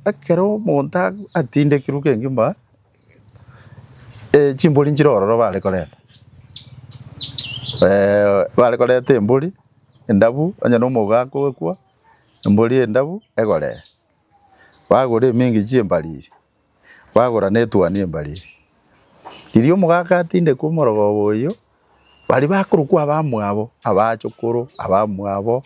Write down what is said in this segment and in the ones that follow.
Ekero omonto atindekirwe kegima, chimbori nchire ororo bare korenta, bare korenta embori endabu onye na omogo akoekwa, embori endabu egoree, bagora emingichia embariri, bagora na etuani embariri. Riria omogaka atindekwa omorogoba oyio. Baria bakorokwa abamwabo, abachokoro, abamwabo,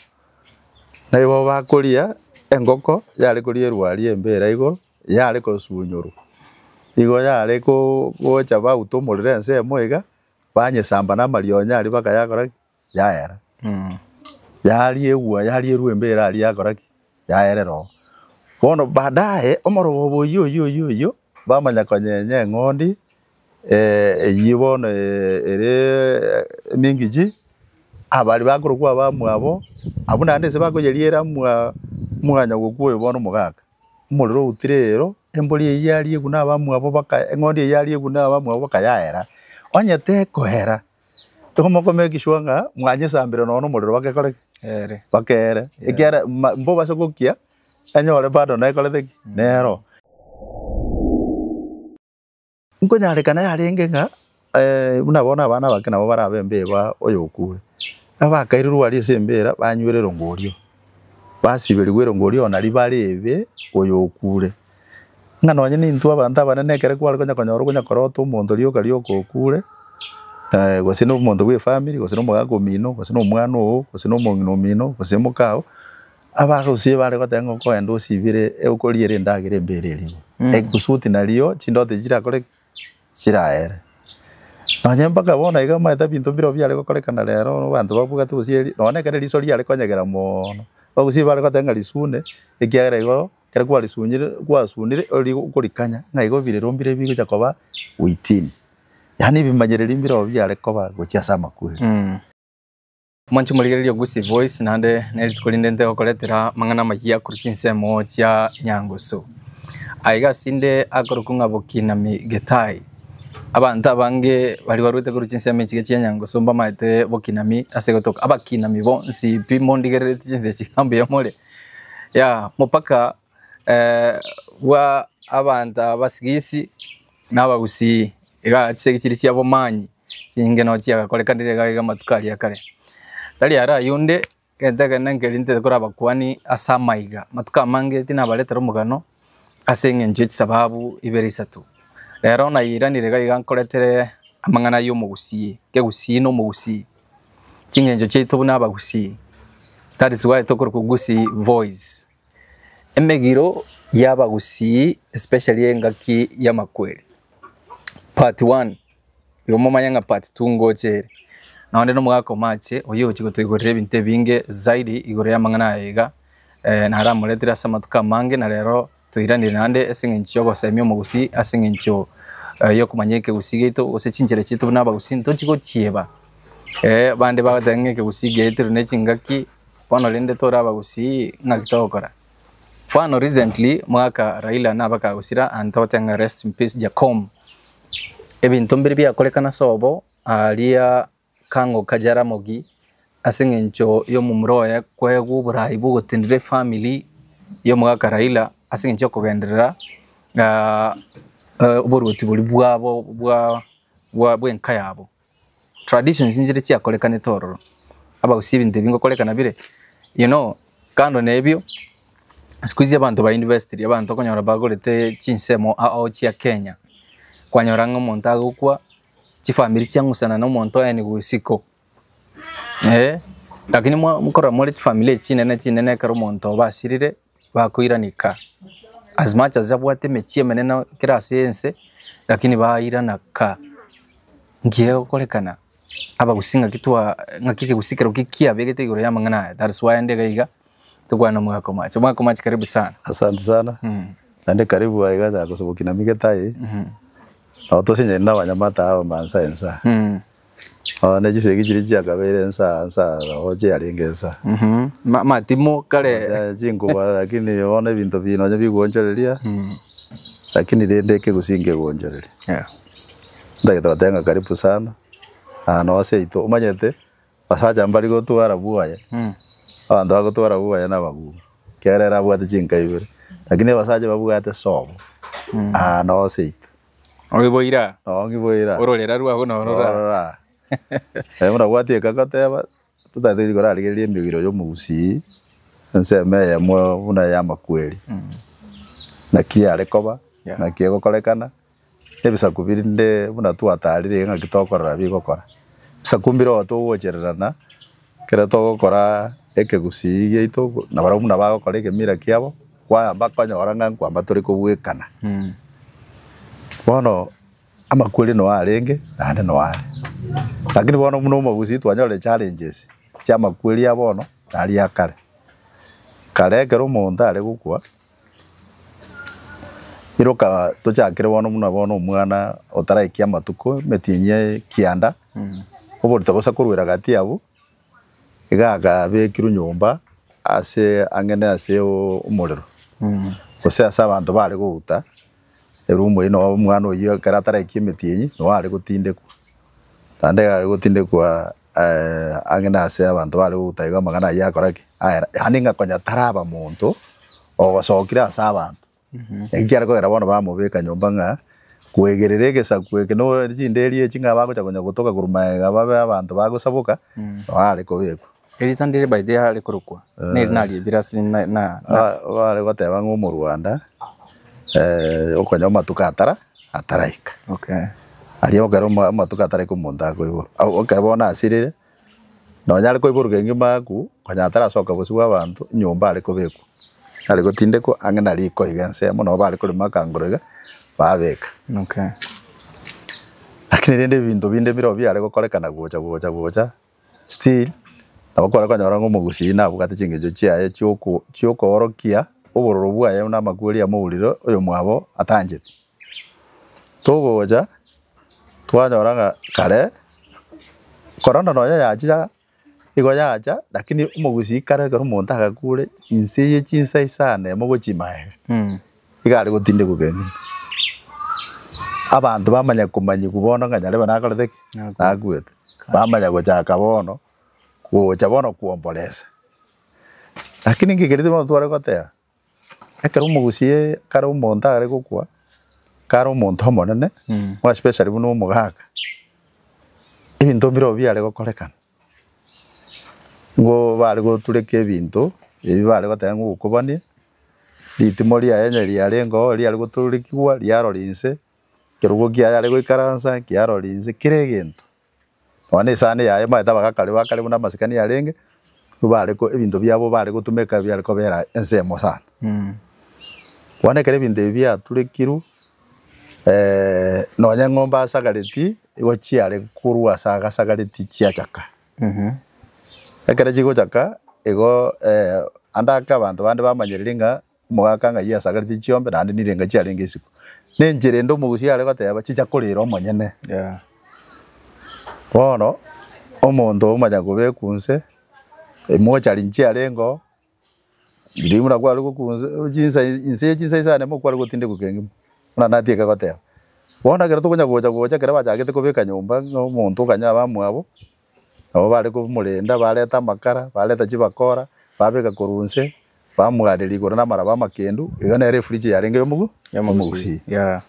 naibo bakoria engoko yare korierwa aria embe ere igoro, yare kosunyorwa. Igo yare koo gocha bauta omorero ensemo iga, banyesamba na amarionyo aria bakayakora ki? Yayera. Yariegwa yarierwa embe ere aria yakora ki? yaereroo. Bono baadaye omorwoobo oyio oyio oyio oyio bamanya konyenya eng'ondi eyio bono ere emingichi, abaria bakorokwa abamwabo abwo naende nse bakoyeriera mwa mwanyagokwo oyo bono omogaka, omorero outire eero, embori eyio yariegwa na abamwabo baka eng'ondi eyio yariegwa na abamwabo bakayaera. Onye tekoera, Tokomokoma egeswa ng'a mwanyesambire nonya nomorero bagekore ki? Ere. Bakeere. Ekiara ma- mbobase gokia enyore bado nekorete ki? Nero. Nkonyarekana yarenge ng'a eh, buna bono abana abake nabo barabe embeba oyo okure. Abakaire rwari ase embera banywire rongorio. Basiberigwe erongo oria ona ribare ebe oyokuure, ng'a nonye nintwe abanto abanene ekero kware konya konyora okonyakorota omonto rioka rioka okuure, gose na omonto bw'efamiri, gose na omogaka omino, gose na omwana oo, gose na omong'ina omino, gose mokao, abagusii bare goteba ng'a okoenda osibire, okoriere endagera embererigwe, egusuti nario chindoto echi chirakore ki? chiraere. Nonya mpaka bono iga omanyete binto mbire biare gokorekana rero abanto babwate gose eri nonya ekero eriso riare konyegera moono, bagusii bare goteba ng'a risune ekiagera igo ekero kwarisunyire kwasunire ori okorikanya ng'a igo birero mbire bigocha koba within. Yaani ebimanyereri mbire oo biare koba gochia ase amakweri. Moche morigererie ogusie voice naende nerituko rinde nte gokoretera amang'ana amayia korwa chinsemo chia nyangusu. Aiga asinde akorokwa ng'a Bokinami Gitahi. Abanto abange baria barwete korwa chinsemo echiga chia nyangusu mbamaete Bokinami ase gotoka abakinami bonsi pi mondigereretie chinsa echi mbuya more. Yaya mopaka bwa abanto aba abasigisi na abagusii, iga chisegi chiria chia obomani chinyinge nonya chiagakorekanire iga iga amatuko aria a kare. Tari aro ayio onde, egento ekenene nkeri ntere kore abakuani ase amaiga, amatuko amange tinabaretera omogano ase eng'encho ye chisababu ibere isato. Rero nairanire iga iga nkoretere amang'ana ayio omogusii, ekegusii na omogusii, ching'encho chiaito buna abagusii, that is why tokorokwa gusii boys. Emegiro y'abagusii especially engaki y'amakweri part one, igo momanye ng'a part two ngocha ere. Nao onde nomogaka omache oyio ogochia gotoigorera ebinto ebinge zaidi igoro y'amang'ana aya iga, naramoretire ase amatuko amange na rero toiranire naende ase eng'encho y'ogosemia omogusii ase eng'encho y'okomanya ekegusii giaito gose chinchera chiaito buna abagusii ntochi gochieba. Bande bagoteba ng'a ekegusii giaito rende nechingaki Bono rende tore abagusii ng'aki togokora? Mfano recently moaka Raila nabakagusira and togotea ng'a rest in peace Jakom. Ebinto mbiri biakorekana ase obo aaria kang'oka Jaramogi ase eng'encho y'omomura oye koegwa oboraai bw'ogotenena efamily y'omogaka Raila ase eng'encho y'okogenderera oboruoti boria bwabo bwa bwa bw'enka yabo. Traditions inchire chiakorekanete ororo abagusie ebinto ebi ngokorekana bire you know kando na ebio siku hizi abanto ba investiri abanto okonyora bagorete chinsemo ao chia Kenya, kwanyora ng'a omonto agokwa chifamiri chiang'usana na omonto aye nigo isiko. Ee, lakini mwa mokorora more chifamiri echi chinene chinene ekero omonto oba asirire, bakoiraneka as much as abwate emechie emenene kera ase ense, lakini bairana ka. Nki gegokorekana? Abagusii ng'aki twaa ng'aki ekegusii keroo ki kiabegete igoro y'amang'ana aya, that is why nde iga iga, tokwana omwaka omoache. Omwaka omoache karibu sana. Asante sana, naende karibu aiga nagosoboki na migete aye, nabo tose nyiri na abanyamata aba mansa ensa. Oo, ne chisegi chiria chiakabeire ensa ensa roho chiarenge ensa. Mhm. Ma- Matimo kare. Eh, chinkuba lakini bono ebinto bi nonya biguonchoreria lakini rende ekegusii nkeguonchoreria Yeah. ntagete goteba ng'a karibu sana na nonya seito omanyete abasacha mbari gotwara bwoye Mm. abanto bagotwara bwoye na abagumu ekerere abwate chinka ibere lakini abasacha babwate sobo nonya seito Ogiboira. Ogiboira. Ororera rwabo norora. Norora. Aye buna bwati ekagoteba totatiri korarigereria embegiro yomogusii ensemo eyemo buna ya amakweri. Naki yare koba naki egokorekana ebisaku birinde buna twatarire ngaki tokorora bigokora. Ebisaku mbire otogochererana Ekero togokora ekegusii giaito na barabwo buna bagokora egemira kiabo, kwayamba konyora ng'a nkwamba tore kobwekana. Bono amakweri noe arenge naende noe are. Lakini bono buna omogusii twanyorire challenges chi'amakweri ya bono naria ya kare. Kare ekero omonto are gokwa. Iroka tochakire bono buna bono omwana otaraiki amatuko emetinyi ya ekianda, oborito bosa korwa eragati abwo, iga akabekirwe nyomba ase ang'ene ase o- omorero gose ase abanto bare gouta, ere omoyio noo omwana oyio ekero ataraiki emetinyi, noo are gotindekwa, naende are gotindekwa. Ang'e nase abanto baare gotaiga amang'ana ayio akora ki? Aera, yaani ng'a konya taraba monto ogosokire ase abanto. Naki kiare kogera bono bamobeka nyomba ng'a kwegerera egesaku eke no chinderi echi ng'a bagocha konya gotoka korwa magega babe abanto bagosaboka, nao are kobekwa. Erita ndire by the way are korokwa neri nari ebirasi na. Bare goteba ng'a omorwanda okonya omatuko atara ataraika. Aria ekero amatuko ataraika omonto akoiborwa, ekero bono asirire, nonye are koiborwa kegima agakwa, konya atarasoka bosio bwa abanto, nyomba are kobekwa, are gotindekwa ang'e na riko iga ensemo, nabo bare korema akangoro iga, babeka. Lakini rende ebinto binde bire oo biare gokorekana gocha gocha gocha. Still, nabo kware konyora ng'a omogusi oyio nabwate chingencho chiaye chi'oko chi'okoorokia obororo bwaye buna amakweri amourirwe oyomwabo atanchete. Togocha, twanyora ng'a kare, korende nonya yachiaa, igo yacha, lakini omogusi kare ekero omonto agakure, inse ye chinsa isano emo gochia maega. Iga are gotindegwa egenene. Abanto bamanya komanyigwa bono ng'a nyarebe nakorete ki? Nakuete. Bamanya gochaka bono gocha bono kwomboresa. Lakini ngekereti bono tware goteba, ekero omogusie kare omonto are gokwa, kare omonto omonene, more especially buna omogaka, ebinto mbire obwo biare gokorekana. Nigo bare gotureka ebinto, ebi bare goteba ng'a ogokobania. Ritimo riaye onye riarengeo riare gotororikigwa riarora inse, ekerogo kiaye are goikaransa kiarora inse, kera egento. Nonya na esani yaye omanyete abagakari ba kare buna amasikani arenge, nigo bare ko ebinto biabo bare gotumeka ebiare kobera ensemo sana. Bono ekero ebinto ebi biaturekirwe nonya eng'ombe asagareti, igo chiare korwa ase agasagareti chiachaka. Ekero chigochaka igo ande ake abanto bande bamanyereire ng'a omogaka ng'ai asagaretie chiombe naende nire ng'a chiarenge isiko. Nenchera ende omogusia are goteba chicha korera omonyene. Bono omonto omonyakobekwa inse, emochari chiarengo. Riria buna kware gokwa nse, chinsa echi, nse ye chinsa isane mo kware gotindekwa kengima. Buna natiga goteba. Bono ekero tokonya gocha gocha ekero bachagete kobeka nyomba ng'a omonto okanya abamwabo, nabo bare komorenda, bareta amakara, bareta chibakora, babeka korwa nse, bamwareria igoro namaraba amakendu, iga nere efridge yarenge yomogu yomogusii. Yeah.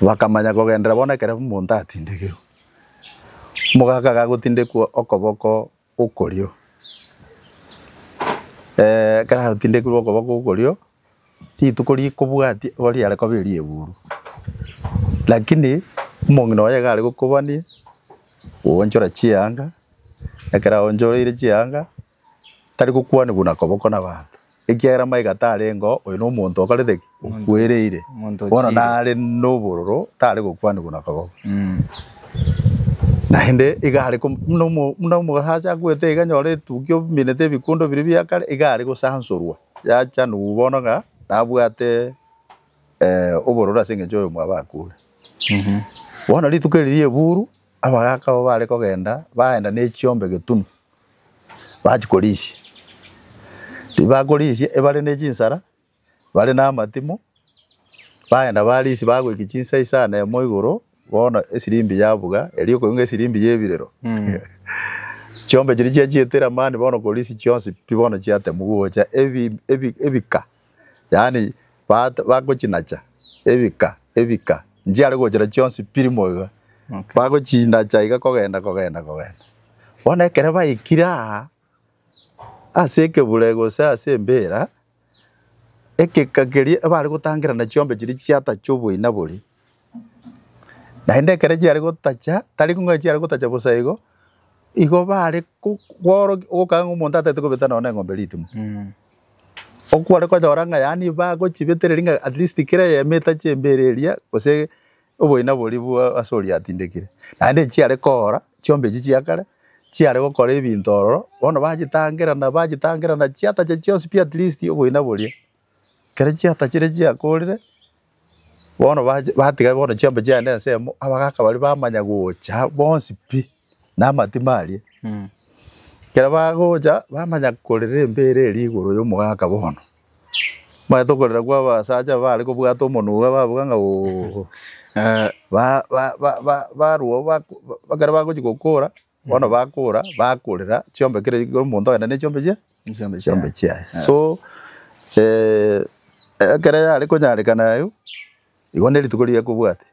Bakamanya kogenderera bono ekero omonto atindegerwe. Omogaka iga agotindekwa okoboko okorio. Ekero atindekirwe okoba gokorio, rituko rikobwati igo riare koba erieguru. Lakini omong'ina oye iga aregokobanie, oonchore chianga, ekero aonchoreire chianga, tarigokwanigwa na koboko nabaanto. Ekiagera maiga tarengeo oyo nomonto okorete ki? Okwereire. Bono nare nobororo tare gokwanigwa na kogoba. Naende iga are ko, buna buna omosacha akwete iga nyore etukia ominete ebikundo biria bia kare, iga are gosansorwa yachanigwa bono ng'a nabwate obororo ase engencho oyo mwabo akure. Bono rituko eri rieburu abagaka abwo bare kogenda, bagenda nechiombe getunu. bachia korisia. Riria bakorisia ebare ne chinsara, bare na amatimo, bagenda barisia bagoika chinsa isano na emo igoro, bono esirimbi yabuga, erio okoigwa esirimbi ya ebirero. Chiombe chiria chiachietire amani bono korisia chionsi pi bono chiatemwa gocha ebi- ebi- ebika. yaani bato bagochinacha ebika ebika nchiare gochira chionsi piri moiga, bagochinacha iga kogenda kogenda kogenda. Bono ekero baikire aa ase ekebure gose ase embira, egeka keria ebare gotangerana chiombe chiria chiatacha oboina boria, naende ekero chiare gotacha tari kong'ai chiare gotacha bosa igo, Igo bare kworokia ogokaka ng'a omonto ataete kobeta nonya na eng'ombe ritimo. Okware konyora ng'a yaani bagochibetereria ng'a at least kera eyemita chimbere eria gose oboina boria bwa ase oria atindekire. Naende echi chiare koora chiombe echi chia kare chiare gokora ebinto ororo bono bachitangerana bachitangerana chiatacha chionsi pi at least oboina boria. Ekero chiata chiria chiakorire, bono bache batiga bono chiambe chiane ensemo, abagaka baria bamanya gocha bonsi pi, na amatima aria. Ekero bagocha, bamanya korera embere eria igoro ya omogaka bono, omanyete okorera kwa abasacha bare kobwata omonwe babuga ng'a ooh, ba- ba- ba- ba- barwa ba- ekero bagochia gokora. Bono bakora bakorera chiombe kera omonto agende ne chiombe chie Chiombe chiombe chiaye so eh, ekero yare konyarekana ayio igo ne rituko riria kobwate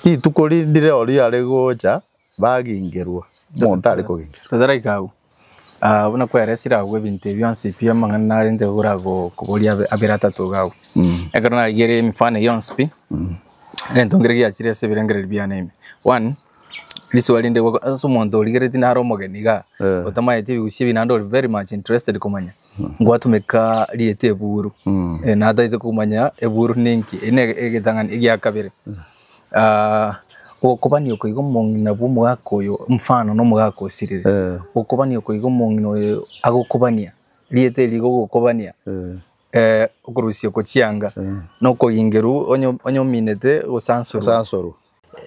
rituko rinde riria ori yare gocha bagingerwa omonto are kogengerwa. Tataraika agwo. Buna kweresire agwo ebinto ebi bionsi pi amang'ana narente igoro ago koboria abe abere atato iga agwo. Ekero narigereire emefano eye yonsi pi, egento nkere giachire ase ebirengererio biane ime. One, risuo rinde goko ase omonto origeretie naro omogeni igaa, otamaeti ebigusia ebi naende ore very much interested komanya, ngwatumeka rieta eburu, nataete komanya eburu ninki, eri ne egetang'ani egia kabere. Ogokobania oko igo omong'ina bw'omogaka oyo, mfano na omogaka osirire. Eh. Ogokobania oko igo omong'ina oyo agokobania, rieta eri igo ogokobania, Eh. eh, okorusia oko chianga, na okoingerwa onye- onye ominete gosansorwa. Osansorwa.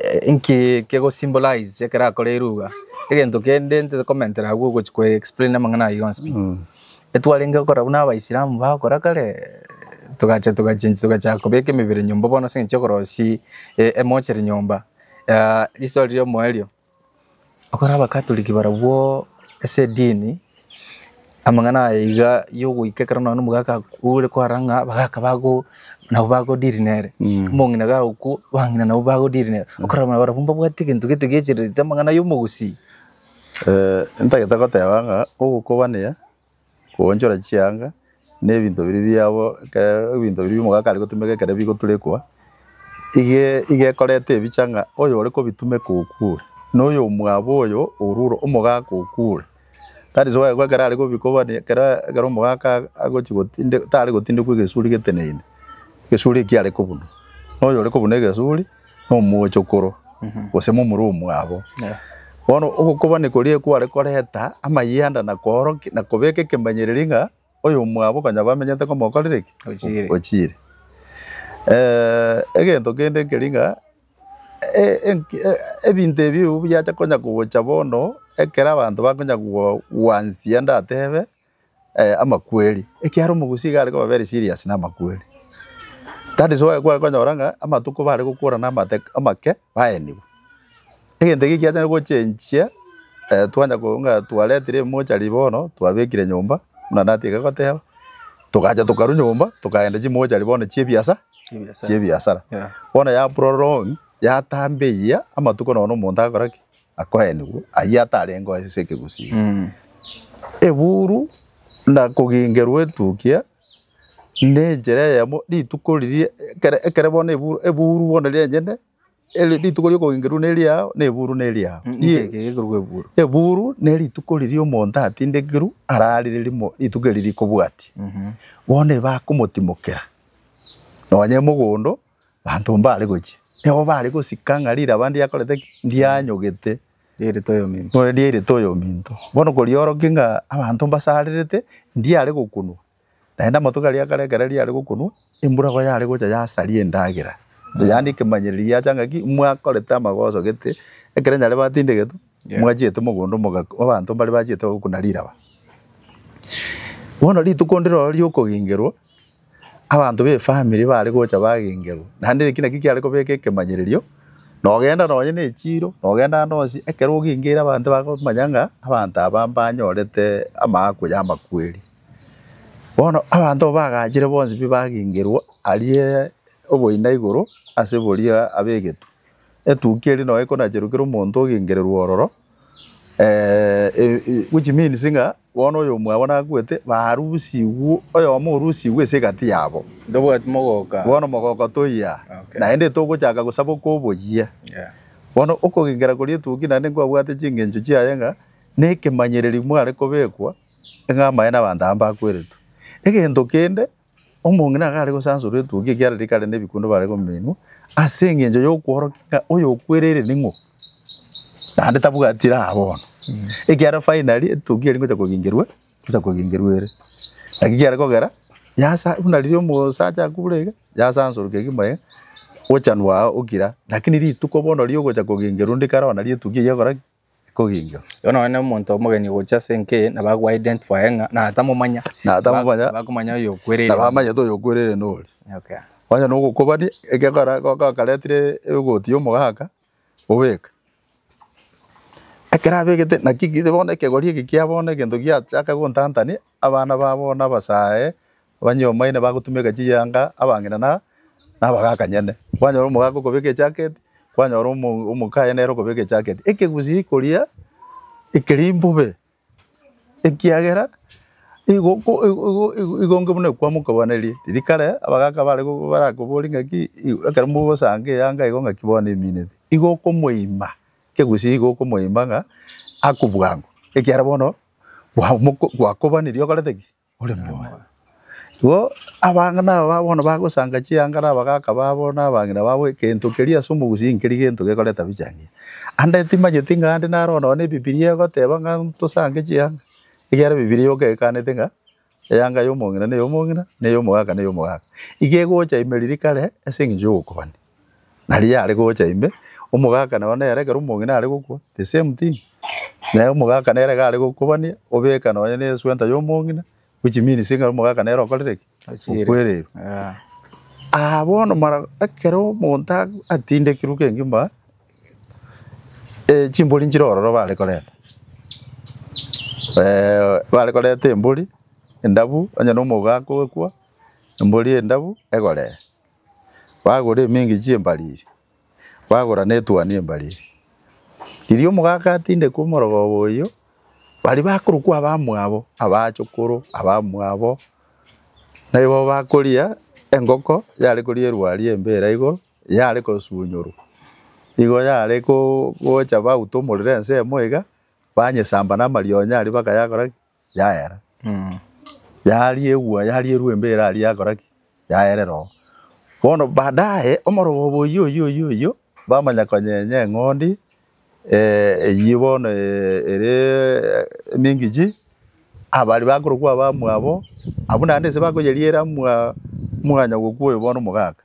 Eh, Nki kegosymbolize ekero akora eruga? Egento kende ntekomentera agwo ogochi koexplain amang'ana ayio yonsi pi. Etwarenge gokora buna Abaisilamu bagokora kare, togacha togachenchia togachaka kobeka emebere nyomba bono ase eng'encho y'okorosia e- emochere nyomba. Risoa riria omoyo erio, ekero Abakatoliki barabwo ase edini, amang'ana aya iga yogoika ekero nonye na omogaka akure kwara ng'a abagaka bago nabo bago deal nere, omong'ina gagokwa, abang'ina nabo bago deal nere, okarora buna barabwo mbabwate egento gete giachererete amang'ana y'omogusii. Ntagete goteba ng'a ogokobania, koonchora chianga, na ebinto biria biabo ekero ebinto biria omogaka are gotumeka ekero bigoturekwa, iga iga ekoreta ebicha ng'a oyore kobitumeka okure, na oyomwabo oyo orure omogaka okure. That is why ekero are kobikobania ekero ekero omogaka aa agochia gotinde tare gotindekwa egesuri geteneine, egesuri ekio are kobunwa, na oyore kobuna egesuri. nomochokoro, gose momura omwabo. Bono ogokobani koria kware koreta amayanda na koorokia na kobeka ekemanyereri ng'a oyomwabo konya bamenyete komokorire ki? Ochiire. Ochiire. egento kende keri ng'a ebinto ebi biacha konya gocha bono ekero abanto bakonya gwansia ndatebe amakweri, ekiagera omogusi iga are koba very serious na amakweri. That is why kware konyora ng'a amatuko bare gokora na amate amake baenigwe. Egento eke ekiachare gochenchia twanya korwa ng'a twaretire emochari bono twabekire nyomba buna natiga goteba, togacha tokarwa nyomba tokaenda chimochari bono chia ebiasa chia ebiasara. Bono ya prolong yatamba eyiya amatuko nonya omonto agakora ki? akoenigwe ayio atarenge oo ase ekegusii. Eburu na kogingerwa etukia nenchera eyemo rituko riria ekero ekero bono eburu eburu bono rienyene eri rituko ria okogengerwa neri yao na eburu neri yao. Inki eke gekorwa eburu? Eburu nerituko riria omonto atindekerwa ararire rimo rituko eri rikobwatia bono eba akomotimokera nonye mogondo Abanto mbare gochia, nigo bare gosika ng'a riraba ndiakorete ki? Ndianyogete. Riairete oyominto. Bono riairete oyominto. Bono koriorokia ng'a abanto mbasarerete, ndiare gokunwa. Naende amatuko aria akare ekero riare gokunwa, embura igo yare gocha yasaria endagera. Yande ekemanyereri giacha ng'a ki? Mwakorete amagoso gete, ekero nyare batinde egetu, Mwachete omogondo omogaka obaanto mbare bachete gokuna riraba. Bono rituko ndire oro riokogengerwa, abanto b'efamiri bare gocha bagengerwa, naende eki naki kiare kobeka ekemanyererio, nogenda nonye na echiiro, nogenda ande onsi, ekero ogengeire abanto bakomanya ng'a abanto aba mbanyorete amaakwa y'amakweri. Bono abanto aba bagaachire bonsi pi bagengerwa, aria oboina igoro ase boria ab'egetwe. Etukia eria noe konacherokire omonto ogenkererwa ororo, which means ng'a bono oyomwabo nakwete barusigwe, oyomo orusigwe ase egati yabo. Ntobwati mogoka. Bono mogoka toiya, naende togochaka gosaba oka oboyia. Bono okogenkera koria etukia naende nkwabwate chingencho chiaye ng'a na ekemanyereri mware kobekwa ng'a amaene 'abanto aba mbakweretwe. Egento kende. Omong'ina akare gosansorwa etwooki ekiagera rikare nebikundo bare kominwa ase engencho y'okworokia ng'a oyokwerere ning'o, naende tabwati raha bono, ekiagera finally etwooki eria ngocha kogengerwa ngocha kogengerwa ere. Naki kiare kogera yasa buna riria omosacha akure iga, yasansorokia kegima iga, gochanwa aa okira, lakini rituko bono riogocha kogengerwa onde kare oonye nario etwooki eyio egokora ki? ekoginga. Bono nonya omonto omogeni ogochia ase enka eye nabo ago identify ng'a natamomanya. Natamomanya. Bakomanya oyo okwerere. Nabo amanyete oyo okwerere nori. Okay. Onye nogokobani ekekora gokaretire egoti y'omogaka obeka. Ekero abegete naki bono ekegori eke kia bono egento giachaka gontantania. abana babo nabasae abanyomaine bagotumeka chiyanga, abang'ina na abagakanyene. Kwanyora omogaka okobeka ejacket, kwanyora omokaye nere okobeka ejacket. Ekegusii koria ekeria mbobe ekiagera igo igo inge buna kwamokogwaneria. Riria kare abagaka barakoborie ng'aki ekero mogosanka eyanga igo ng'aki bono emineti. Igo okomoima, ekegusii igo okomoima ng'a akobua ng'o ekiagera bono gwakobaniri okorete ki? Ore moyo. Igo abang'ina aba bono bagosanga chiang'ara abagaka babo na abang'ina babo egento keria ase omogusii nkeri gento gekoreta bicha engiya. Ande timanyeti ng'a ande naro nonya na Ebibiria egoteba ng'a ntosange chianga, ekiagera Ebibiria yoka ekanete ng'a Eyanga y'omong'ina ne y'omong'ina, na ey'omogaka ne y'omogaka, iga egocha ime riria kare ase engencho y'obokuani. Na riria yare gocha ime, omogaka nao nere ekero omong'ina are gokwa, the same thing. Na omogaka nere iga are gokobania, obeka nonye ne eswenta y'omong'ina, which means ng'a omogaka nere okorire ki? Okwereirwe. Aa bono mara ekero omonto atindekirwe kegima. Ee chimbori nchire ororo bare korenta, bare korenta embori endabu onye na omouga akoekwa embori endabu egoree, bagora emingi chi'embariri, bagora na etuani y'embariri. Riria omoga agatindekwa omorogoba oyio, baria bakorokwa abamwabo, abachokoro, abamwabo, naibo bakoria engoko yare koria erwari embe eira igoro. yare kosunyorwa. Igo yare gocha bauta omorero ensemo iga, banyesamba na amarionya aria bakayakora ki? Yaera. Yaria egwa yaria erwa embe ere aria yakora ki? Yaerera oo. Bono baadaye omorogoba oyio oyio oyio oyio bamanya konyenya eng'ondi eyio bono ere emingichi, abaria bakorokwa abamwabo, abwo naende ase bakoyeriera mwa mwanyagokwa oyo bono omogaka.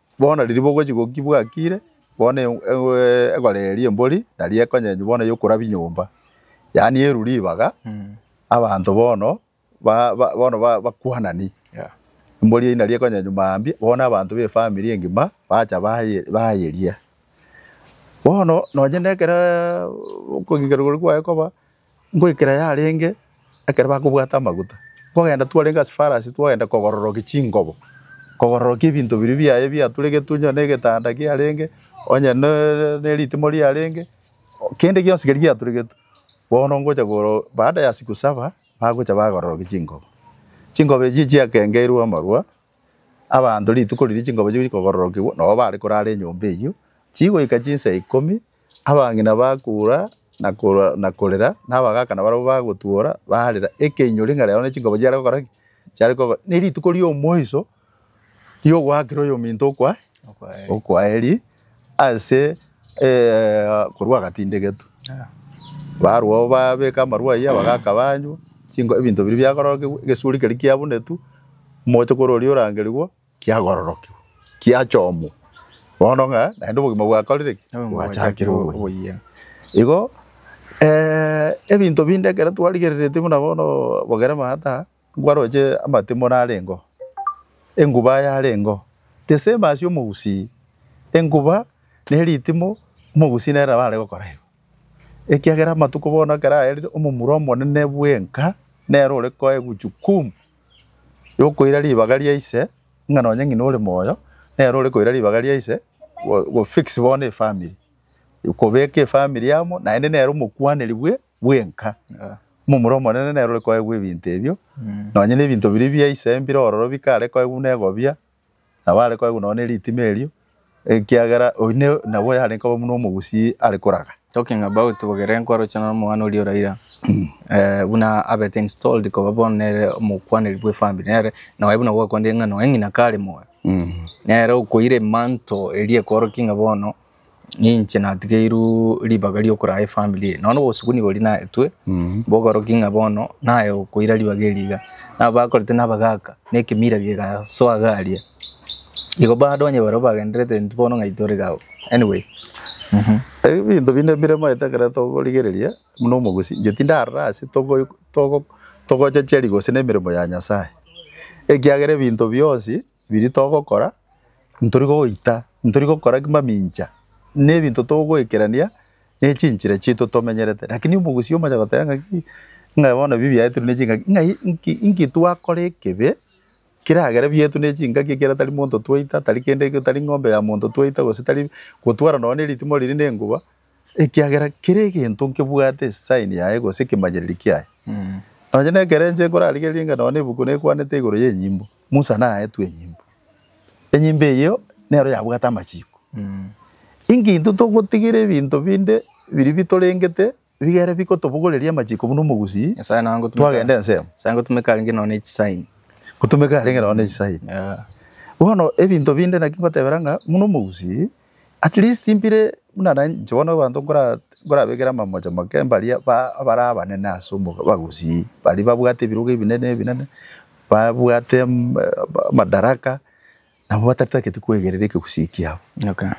Bono riria bogochia gokia bwakire, bono egora eye ri'embori nari ekonyenywa bono yokorabia nyomba, yaani erwe ribaga, abanto bono bono bakwanani, embori eyio nari ekonyenywa mambia, bono abanto ba efamiri engima bacha bayeria. Bono nonye nekero okogikerwa koria kwaye koba. Ngoikera yarenge ekero bakobwata amaguta, nkogenda twarenge ase farasi twagenda kogororokia chingobo, kogororokia ebinto biria biaye biaturegetwe onye negetanda kiarenge, onye neritimo riarenge, kende gionsi keria giaturegetwe. Bono ngocha baada ya siku saba bagocha bagororokia chingobo. Chingobo echio chiakengeirwe amarwa, abanto rituko riria chingobo chigochia kogororokigwa nabo bare korara enyomba eyio, chigoika chinsa ikomi, abang'ina bakoura na koura na korera, na abagaaka nabarabwo bagotwora, barera, ekeinyori ng'a rero ne chinkoba chiare gokora ki? Chiare koba ne rituko ri'omoiso ri'ogoakera oyominto okwa okwaeri ase korwa agatindegetu. Barwo abwo babeka amarwa ayio, abagaaka banywa, chinko ebinto biria biakorokigwa, egesuri keria kiabunetu, omochokoro oria orangerigwa. kiagororokigwa, kiachomwa, bono ng'a naende obogima bwakorire ki? Bwachakire oboyia. Igo eh, ebinto binde ekero twarigereretie buna bono bogere maata, nkwaroche amatimore arenge oo, enguba yarenge oo, the same as omogusii, enguba na eritimo omogusii nere nabo are gokora igo. Ekiagera amatuko bono ekero aerire, omomura omonene bwenka nere ore koegwa jukumu. yokoira ribaga ria ise, ng'a nonye ng'ina ore moyo, nere ore koira ribaga ria ise, go- go fix bono efamiri. Kobeka efamiri amo, naende nere omokwaneri bwe bwenka. Momura omonene nere ore koegwa ebinto ebio, nonye na ebinto biria bia ise mbire ororo bikare koegwa buna egobia. Nabo are koegwa nonya neritima erio, ekiagera oyio ne nabo yarenge koba buna omogusii are koraga. Talking about bogere nkwaroche nonya omwana oria o Raila buna abete installed koba bono nere omokwaneri bwe family nere nonye buna gwakwanire ng'a nonye ng'ina kare moyo nere okoira emantle eria ekworokia ng'a bono ninche natigeirwe ribaga riokoraa efamiri eye. Nonya na obosubuni boria naetwe, bokorokia ng'a bono naye okoira ribaga erio iga. Nabo bakorete na abagaka, na ekemira kigasoa iga aria. Igo badonye barobwo bagendererete intwe bono ng'ai tore iga abwo. Anyway, mh. Ebinto binde mbiremaete ekero tokorigereria buna omogusi, inche tindarora ase togo togo togochecheri gose na emeremo ya Nyasae, ekiagera ebinto bionsi biria togokora ntori goita, ntori gokora ki mamincha, na ebinto togoekerania na echinchera chiaito tomenyerete. Rakini omogusii omonyene agoteba ng'a ki, ng'a bono ebi biaetwe na chingaki, ng'ai nki nki twakora ekebe keragere biaetwe na chingaki ekero tari monto twaita, tari kende eke, tari ng'ombe ya monto twaita, gose tari gotwara nonye na eritimo riria na enguba, ekiagera kera egento nkebwate esign yaye gose ekemanyereri kiaye. Nonye na ekero inche nkorarigereria ng'a nonye na ebuku nekwanete igoro ya enyimbo, Musa naetwe enyimbo. Enyimbo eyio nero yabwate amachiko. Inki intwe togotigera ebinto binde biria bitorengete biga ere bigotobogoreria amachiko buna omogusii Nyasae nonya gotumeka twagenda ensemo? Nyasae ngotumeka arenge nonya ne chisign. Gotumeka arenge nonya ne chisign. Bono ebinto binde naki ngotebera ng'a buna omogusii. At least mbire buna na inche bono abanto nkora nkorabekere amamocho make mbaria ba abare abanene ase omoka bagusii, baria babwate ebirogo ebinene ebinene, babwate am- ama- amadaraka, nabo batatagete kwegerera ekegusii kiabo. Okay.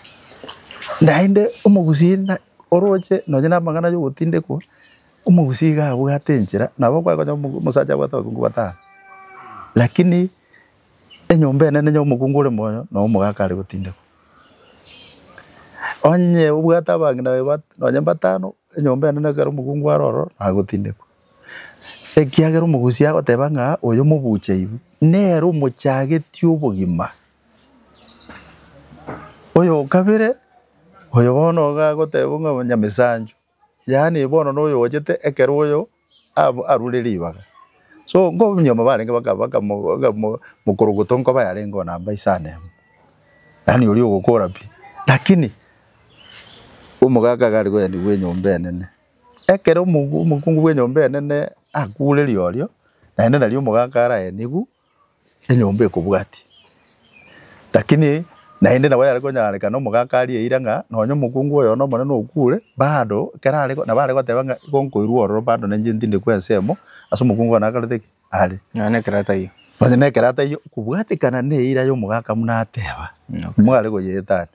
Naende omogusii na oroche nonye na amang'ana ya ogotindekwa, omogusii iga abwate enchera, nabo okonyora omo omosacha abwate abakungu batano, lakini. Enyomba enene y'omokungu ore moyo na omogaka are gotindekwa. Onye obwate abang'ina baye bat- nonye mbatano, enyomba enene ekero omokungu are ororo nagotindekwa. Ekiagera omogusia agoteba ng'a oyo mobuche igu, nere omochagetie obogima. Oyo o kabere, oyo bono iga agoteba ng'a onye Nyamesanchu, Yaani bono noyo ogochete ekero oyo arure ribaga so nyuma barenge bakamokorogoto nkoba yarenge oo namba isano emo yaani oria ogokora pi lakini omogaka iga are koyenda bwa enyomba enene ekero omokungu bwa enyomba enene akure riorio naende nario omogaka araenigwe. enyomba ekobwatia. Lakini naende nabo yare konyarekana omogaka arie eira ng'a nonye omokungu oyo one omonene okure, bado ekero are nabo are goteba ng'a igo nkoirwa ororo bado na inche ntinde kwa ensemo ase omokungu one akorete ki? Are. Nonya na ekero ataiyo. Nonya na ekero ataiyo kobwatekana na eira ya omogaka buna ateba, nigo are koyeetania.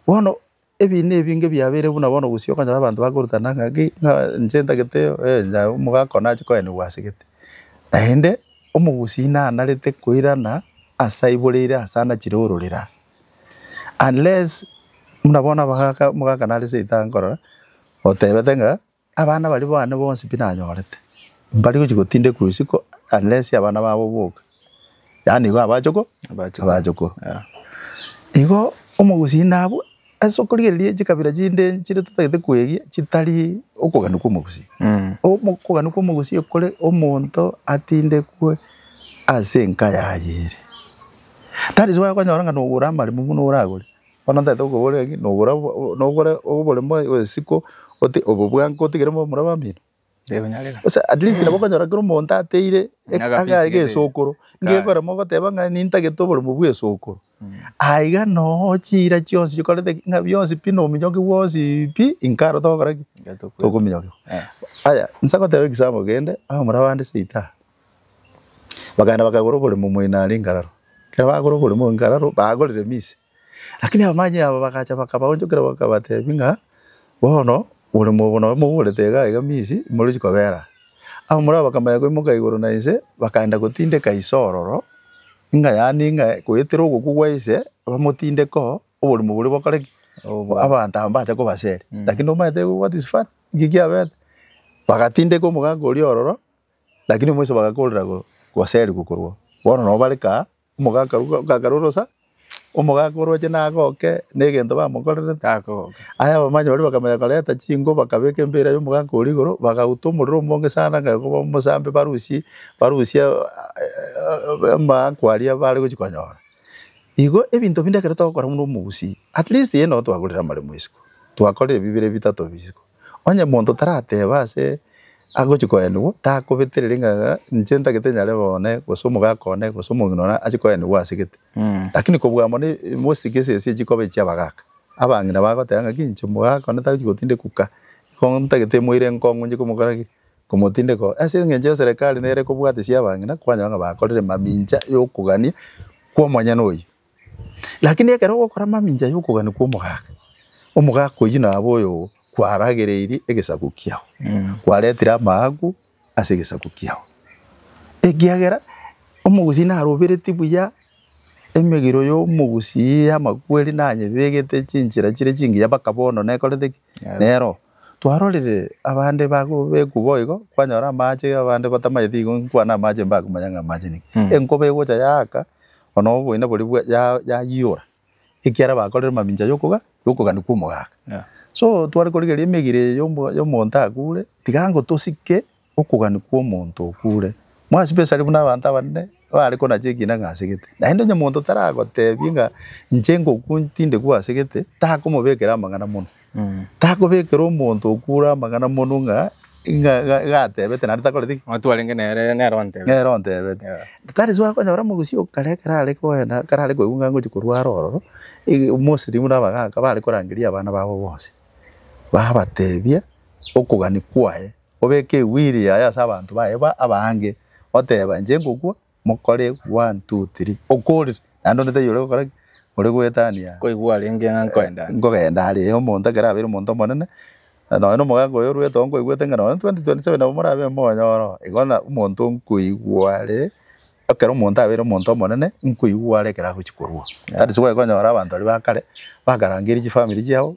Bono. Ebiina ebinge biabeire buna bono gose okonyora abanto bakorutana ng'aki ng'a inche ntagete eh onye omogaka one ache koenigwa ase gete. Naende, omogusii nanarete koirana ase aiboreire ase anachire ororera. Unless, buna bono abagaka omogaka nare seito aye nkorora, otebete ng'a. Abana baria bane bonsi pi nanyorete, mbari gochia gotindekwa isiko unless abana babo boka, yaani igo abachoko abachokoro. Igo omogusii abwo ase okorigereria echikabira chinde chire totagete kweegia chitari okogania kwa omogusii. Okogania kwa omogusii okore omonto atindekwe ase enka yaye ere. That is why okonyora ng'a nogora amaremo buna oragore. Bono ntagete gokobora ng'a nogora nogore oboremo bw'esiko oti obobwango otigere momura bamino? Tekonyareka. Gose at least nabo okonyora kera omonto ateire e- Nyaga aga pisi gete. gesokoro, Kare. ngegora mogoteba ng'a nintagete oboremo bw'esokoro. Aiga noo chiira chionsi chikorete ki? Ng'a bionsi pi na ominyoki bwonsi pi inkaro togokora ki? Tokominyoka. Aya, nsa goteba egesampol kende, abamura bande seita aa. Bakaenda bakagora oboremo moino are Ngararo. Ekero bagora oboremo oo Ngararo, bagorire Misi. Lakini abamanyi aba bagacha bakabaonchokera bakabatebia ng'a bono oboremo obo nabo mogorete iga iga Misi, imoruchi kobera aa. Abamura aba bakamanya koimoka igoro na inse, bakaenda gotindeka ise ororo, ng'a yaani ng'a goetera ogokwa gwa ise, bamotindeke oo, oboremo boria bokore ki? Abanto aba mbache kobaseria. Lakini omanyete what is funny? Nki kiabete? Bagatindeka omogaaka oria ororo. Lakini omoiso bagakorera goserigwa korwao. Bono nabo bare kaa, omogaka orwa ogakare orosa, omogaka oroche nagoke negento bamokorerete. Aya abamanya baria bakamanya koreta chinko bakabeka embeera y'omogaka oria igoro, bagauta omorero omonge sana ng'a koba omosambe barusie barusie amaakwa aria bare gochia konyora. Igo ebinto binde ekero togokora buna omogusii, atleast yee nabo twagorire amaremo isiko, twakorire ebi bire bitato bi isiko. Onye monto tarateba ase agochia koenigwa, takobetereri ng'a inche ntagete nyare one, gose omogaka one, gose omong'ina one achie koenigwa ase gete. Lakini kobua amo ne mosike esese echi koba echia abagaka. Abang'ina bagoteba ng'a ki inche omogaka one tagochia gotinda ekuka, igo ntagete moire enkong'u inche komokora ki? Komotinde ekuka. Ase eng'encho eserekari nere ekobwatisia abang'ina, kwanyora ng'a bakorire mamincha ya okogania kwa omonyene oyio. Rakini ekero ogokora mamincha y'okogania kw'omogaka, omogaka oyio nabo oyo kwaragereirie egesaku kiao, kwaretire amaaku ase egesaku kiao, ekiagera omogusii naroberetie buya emegiro y'omogusii y'amakweri nanyebegete chinchera chire chingiya mpaka bono nekorete ki? Nero. Twarorire abande bagobekwa boigo, kwanyora amache abande batamanyeti igo nkwane amache mbakomanya ng'a amache niki. Enkoba egocha yaaka, Ono oboina boria bwa ya yayiora ekiara bakorire mamincha yokoga yokogania kwa omogaka. Yeah. So tware korigeria emegire eye yomo yomonto akure tiga ngotosike okogania kwa omonto okure. More especially buna abanto abanene bare konacha ekina ng'a asegete. Naende onye omonto taragotebie ng'a inche ngokwa tindekwa asegete takomobekera amang'ana mono. Takobekera omonto okure amang'ana monwe ng'a ng'a ng'a iga atebete naende takoreti ki? Onye twarenge nere nere ontebe. Nere ontebete. Yeah. That is why okonyora omogusii o kare ekero are koenda, ekero are koigwa ng'a ngochia korwa are ororo, ege mostly buna abagaka bare korangeria abana babo bonsi, babatebia okogania kwaye, obeke ewili yaye ase abanto baye ba abange, oteba inche ngokwa, Mokore one, two, three. Okorire, naende onde taiyo ore gokora ki? Ore goetania. Koigwa arenge ng'a nkoenda are. Nkogenda are. Omonto ekero abeire omonto omonene, nonya na omogaka oyo orwete oo nkoigwete ng'a nonya 2027 nabo morabe momonyore oo. Igo na omonto nkoigwa are, ekero omonto abeire omonto omonene, nkoigwa are ekero agochia korua. That is why okonyora abanto baria ba kare, bakarangeria chifamiri chiabo,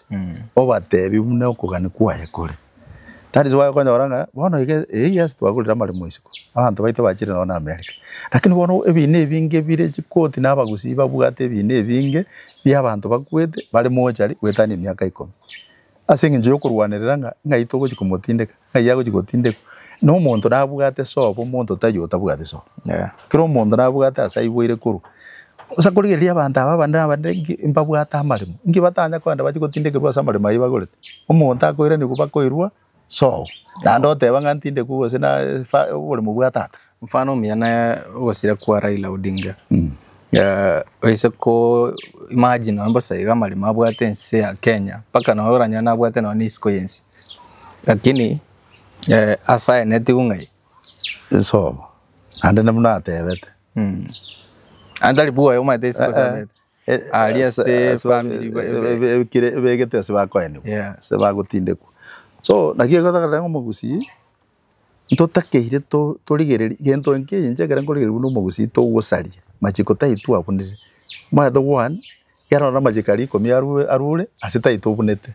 obateebie buna okogania kwaye kore. That is why okonyora ng'a bono iga eh yes twagorire amaremo isiko, abanto baito bachire nonya na America, lakini bono ebina ebinge bire chikoti na abagusii babwate ebina ebinge bia abanto bakwete bare mochari goetania emiaka ikomo, ase eng'encho ya okorwanerera ng'a ng'ai togochia komotindeka. Ng'ai agochia gotindekwa? Nomonto nabwate sobo, omonto tari otabwati sobo. Kera omonto nabwate ase aiboire korwa. Bosa korigereria abanto aba abande na abande inki? Mbabwate amaremo. Inki batanya kogenda bachie gotindekerwa ase amaremo ayio bagorete? Omonto akoiranigwa bakoirwa sobo. Naende oteba ng'a ntindekwe gose na efa, oboremo bwa tata. Mfano omuya ne ogosira kwa Raila Odinga oise ko imagine nonya bosa iga amaremo abwate ense ya Kenya mpaka nonya oranyore abwate nonya na isiko yensi lakini ase aye netigwe ng'ai? Esobo naende na buna atebete. Naende tari bwoye omanyete isiko ase abete aria ase efamiri ebekire ebegete ase bakoenigwa ase bagotindekwa so naki egotaka rero ng'a omogusii. Ntotakeire torigererie gento eke inche ekero nkorigereria buna omogusii togosaria machiko tai twabunire omanyete one ekero ororo amachiko aria ikomi arure ase tai tobunete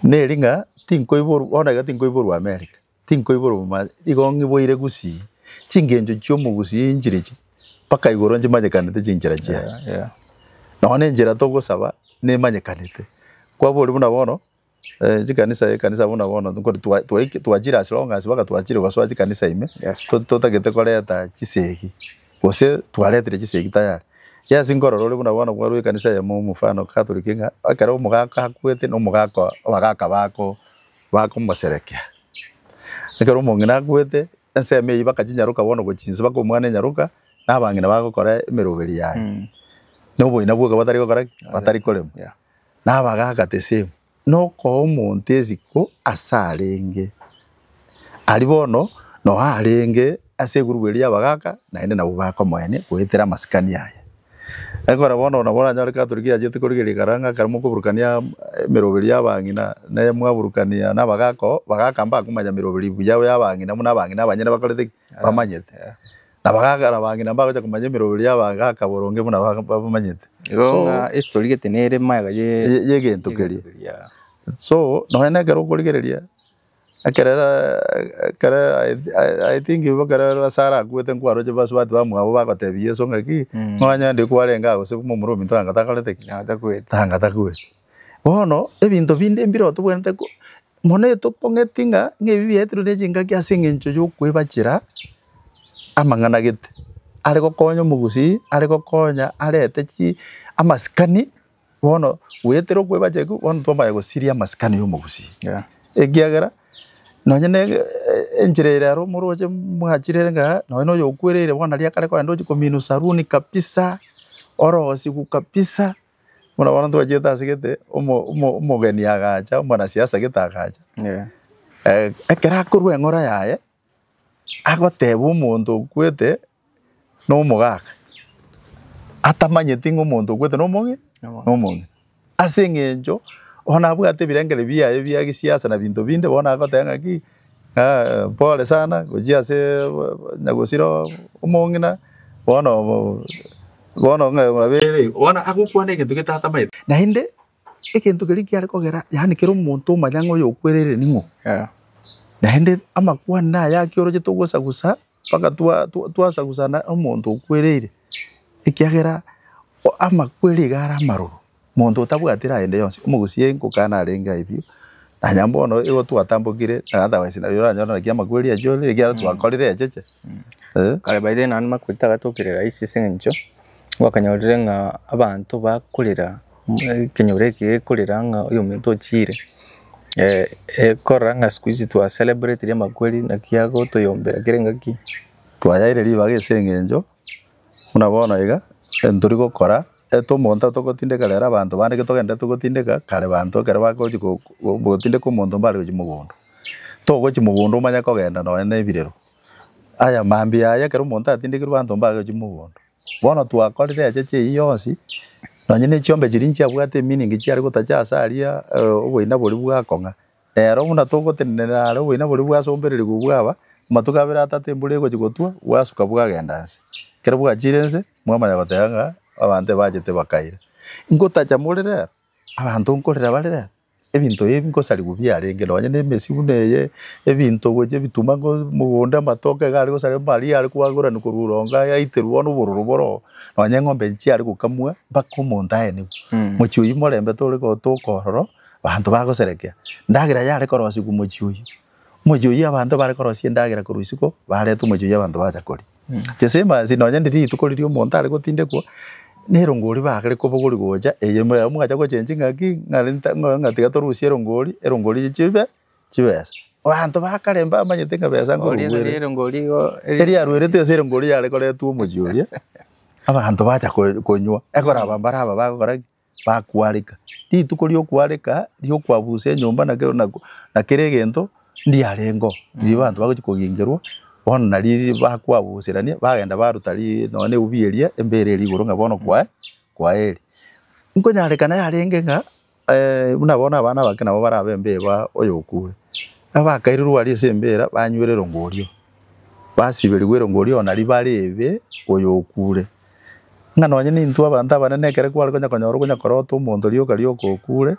neri ng'a tinkoiborwa bono iga tinkoiborwa America tinkoiborwa boma igo ng'iboire gusii chingencho chia omogusii nchire ichi mpaka igoro nchimanyekanete chinchera chiaye nonya enchera togosaba nemanyekanete kwaboria buna bono. Chikanisa ekanisa buna bono nkori twa twaiki twachire ase rong'asi mpaka twachire gosoa chikanisa ime, Yes. to- totagete koreta chisegi, gose twaretire chisegi tayari. Yes nkorora ore buna bono kwarwa ekanisa eyemo omofano catholic ng'a ekero omogaka akwete na omogaka oye abagaka bako bakomoserekea. Ekero omong'ina akwete, ensemo eyio mpaka chinyaroka bono gochi inse mpaka omwana enyaroka, na abang'ina bagokora emeroberi yaye. Na oboina bwoka batari gokora ki? Batari korema. Yeah. Nabagaaka tesemu, nokoa omonto esiko as'arenge. Aria bono no arenge as'egurubu eria yabagaaka, naende nabwo baaka omoyene goetera amasikani aye. Ekora bono nabo oranyore Catholic yachete korigereria karara ng'aka aria mokoburukania emeroberi y'abang'ina ne mwaburukania nabagaaka oo, bagaaka mbakomanya meroberi buya y'abang'ina buna abang'ina abanyene bakorete ki? Bamanyete. Na bagakora bang'ina mbagocha komanya emeroberi y'abagaaka boronge buna babamanyete. Igo So- ng'a history gete nere maega ye ye- y'egento keria. keria. So nonya na ekero okorigereria ekero ekero I- I- I think ekero Lasaro akwete nkwaroche basubati bamwabo bagotebia Yeso ng'aki, Mm. nonya ndiri kwarenge ago gose buna omorwoti anga takorete ki? Natakwete. Anga takwete. Bono ebinto binde mbire otobwenerete mono etokong'eti ng'a ebi biaetirwe ne chingaki ase eng'encho yokwebachera amang'ana gete, are gokonya omogusii, are gokonya arete chi amasikani bono goetera okwebachera ekio bono twamanya gosiria amasikani ya omogusii ekiagera nonye ne enchera ere aro moroche mwachire ere ng'a nonye na oyo okwereire bono riria akare kogenda ochi kominwa saruni kabisa, orosiwu kabisa. Bono bono twachete ase gete, omo- omo- omogeni agacha, omonasiasa gete agacha, eh, ekero akorwa eng'ora yaye, agoteba omonto okwete na omogaka, atamanyeti ng'a omonto okwete na omoge, na omong'ina. Ase eng'encho, bono abwate ebirengererio biaye bia gesiasa na binto binde, bono agoteba ng'aki, pole sana, gochia ase nyagosira omong'ina. Bono bono ng'a mwabeire igo, bono agokwana egento getatamaete. Naende egento keria kiare kogera, yaani kera omonto omanya ng'a oyokwereire ning'o. Naende amakwanire aya ake orochete ogosagusa mpaka twa- twa- twasagusana omonto okwereire, ekiagera o- amakwere iga are amaroro. Monto otabwatire aende yonsi, omogusie nkoka narenge aye biu. Nanya mbono igo twatambokire na otherwise nari oranyore naki amakweri acho ore ekiagera twakorire echeche. Eh. Kare by then naende amakweri tagatokire rahisi ase eng'encho gwakanyorire ng'a abanto bakorera ekenyoro eke gekorera ng'a oyo omonto ochiire ekorora ng'a siku hizi twa celebratiri amakweri naki agotoyombera kera engaki. Twayaire ribaga ase eng'encho buna bono iga ntori gokora. Eto omonto atogotindeka rero abanto bande getogende togotindeka kare banto ekero bagochi gotindeka omonto mbare gochia mogondo togochia mogondo omanye kogenda nonya ne ebirero aya mambia aya ekero omonto atindekirwe abanto mbare gochia mogondo bono twakorire echeche eyio yonsi nonya ne chiombe chiria nchiabwate eminingi chiare gotacha ase aria oboina boria bwakong'a. Reero buna togotenenera are oboina boria bwasombererigwe bwaba, amatuko abere atato embura egochia gotwa, bwasuka bwagenda inse. Ekero bwachiire inse, mwamanya goteba ng'a abanto ebachete bakaira. Ingotacha more reero, abanto nkorera bare reero, ebinto ebi nkosarigwa biarenge, nonye ne emesi buna eye, ebinto gochia ebituma ngo mogondo, amatoke iga are gosarigwa, amaria are koagoranwa korwa orongo aya aiterwe bono obororo bore oo, nonye eng'ombe chiare gokamwa mpaka omonto aenigwe. Mochie oyio morembe tore gotoka ororo, Abanto bagoserekea, Endagera yare korosigwa omochie oyio. Omochie oyio abanto bare korosia endagera korwa isiko, bareta omochie oyio abanto bacha koria. The same as nonya ndiri rituko riria omonto are gotindekwa, nerongori bagere kobogori gocha, eye mogacha gochenchi ng'aki, ng'a renta, ng'a tiga torusie erongori, erongori chibe chibesa. Abanto ba kare mbamanyete ng'a besa eriaruerete ase erongori riare koretwa omochie oria, abanto bacha konywa, ekoraba mbare aba bagokora ki? Bakwareka. Rituko ri'okwareka, ri'okwabusa enyomba na kera na na kera egento ndiarengeo, riria abanto bagochia kogengerwa, bono nari bakwabuserania, bagenda baruta ri nonya na egubi eria, embere eria igoro ng'a bono kwaye. Kwaheri. Nkonyarekana yarenge ng'a buna bono abana abake nabo barabe embeba oyo okure. Nabo bakairirwe aria ase embera banywire erongo oria, basiberigwe erongo oria ona ribare ebe oyo okure. Ng'a nonye nintwe abanto abanene ekero kware konya konyora okonya korota omonto rioka rioka okure,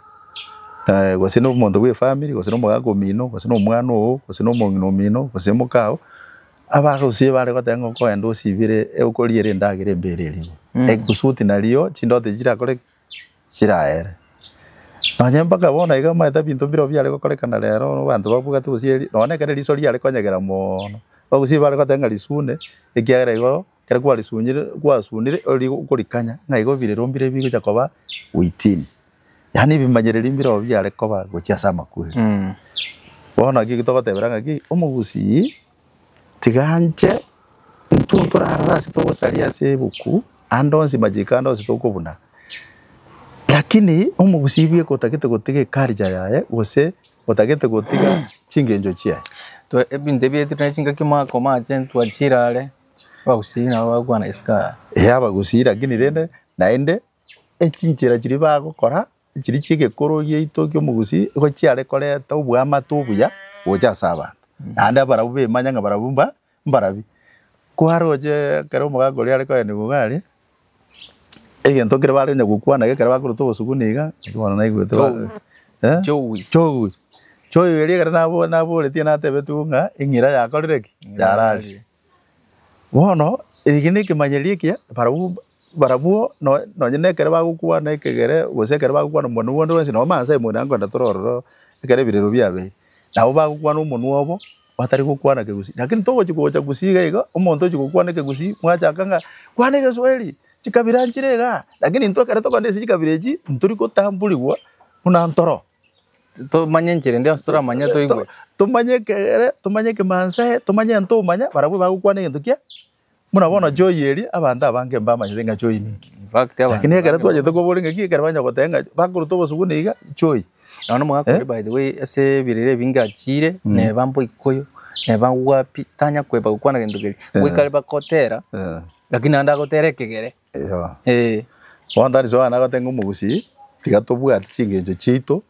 gose nomonto bw'efamiri, gose nomogaka omino, gose nomwana oo, gose nomong'ina omino, gose moka oo, Abagusia bare goteba ng'a okoenda osibire okoriera endagera embeire erimo, egusuti nario chindoto echi chirakore ki? Chiraere. Nonye mpaka bono iga omanyete binto mbire nabio biare gokorekana rero abanto babwate gose eri, nonye ekero riso riare konyegera mono. Abagusia bare goteba ng'a risune ekiagera igo ekero kwarisunyire, kwasunire, ori- okorikanya ng'a igo bire rombire bigocha koba within. Yaani ebimanyereri mbirobio biare koba gochia ase amakweri. Mm. Bono naki eki togotebera ng'aki omogusii tiga anche intwe torarora ase togosaria ase ebuku ande onsi machiko ande onsi tokobuna lakini omogusii bweka otagete gotiga eculture yaye gose otagete gotiga chingencho chiaye. Twe ebinto ebi etire na chingaki makomache ntwachirare abagusii nabo bagokwana yes kaa. Eeh abagusii lakini rende naende echinchera chiria bagokora chiria chi'egekoro giaito ki'omogusii, nigo chiare korenta oboamate obuya gocha ase abanto, naende abarabwo bemanye ng'a barabwo mba mbarabia. Kware gochia ekero omogaka oria are kogenda igoro aria, egento kere bare konya gokwana iga ekero bakorota obosuku niga, naki bono naigwete ba eh? Chogwi. Chogwi. Chogwi eria ekero nabo naboretie natebetigwe ng'a eng'ira yakorire ki? Yararia. Bono eke nekemanyererio ekiya barabwo barabwo noe nonye na ekero bagokwana ekegere gose ekero bagokwana omwonwo bwonde bwensi nabo mansa aye moino akoenda toro ororo ekero ebirero biabeire. Nabo bagokwana omonwa obo batari gokwana kegusii. Lakini togochi gocha gusii iga iga, omonto ochi gokwana ekegusii mwachaka ng'a kwana egeswahili, chikabira nchire igaa, lakini intwe ekero tokwana ase chikabira echio, ntori gotamburigwa buna ntoro. tomanye enchera eria onsi toramanye toigwe. Tomanye ekegere, tomanye ekemansa ee, tomanye egento omanya, barabwo bagokwana egento kia, buna bono joy eria, abanto abange mbamanyete ng'a joy ninki. In fact abanto Lakini ekero bange twachete koboria ng'a ki, ekero bachia goteba ng'a bakorutwa obosubwa niga, joy. Nonye na omogaka oria by the way ase ebirere ebinge achiire, neba Mboikoyo, neba wapi, tanya koeba gokwana egento keria. Goika are bakotera, lakini naende agotera ekegere. Eeh. Bono tari Johana agote ng'a omogusii, tiga tobwate chingencho chiaito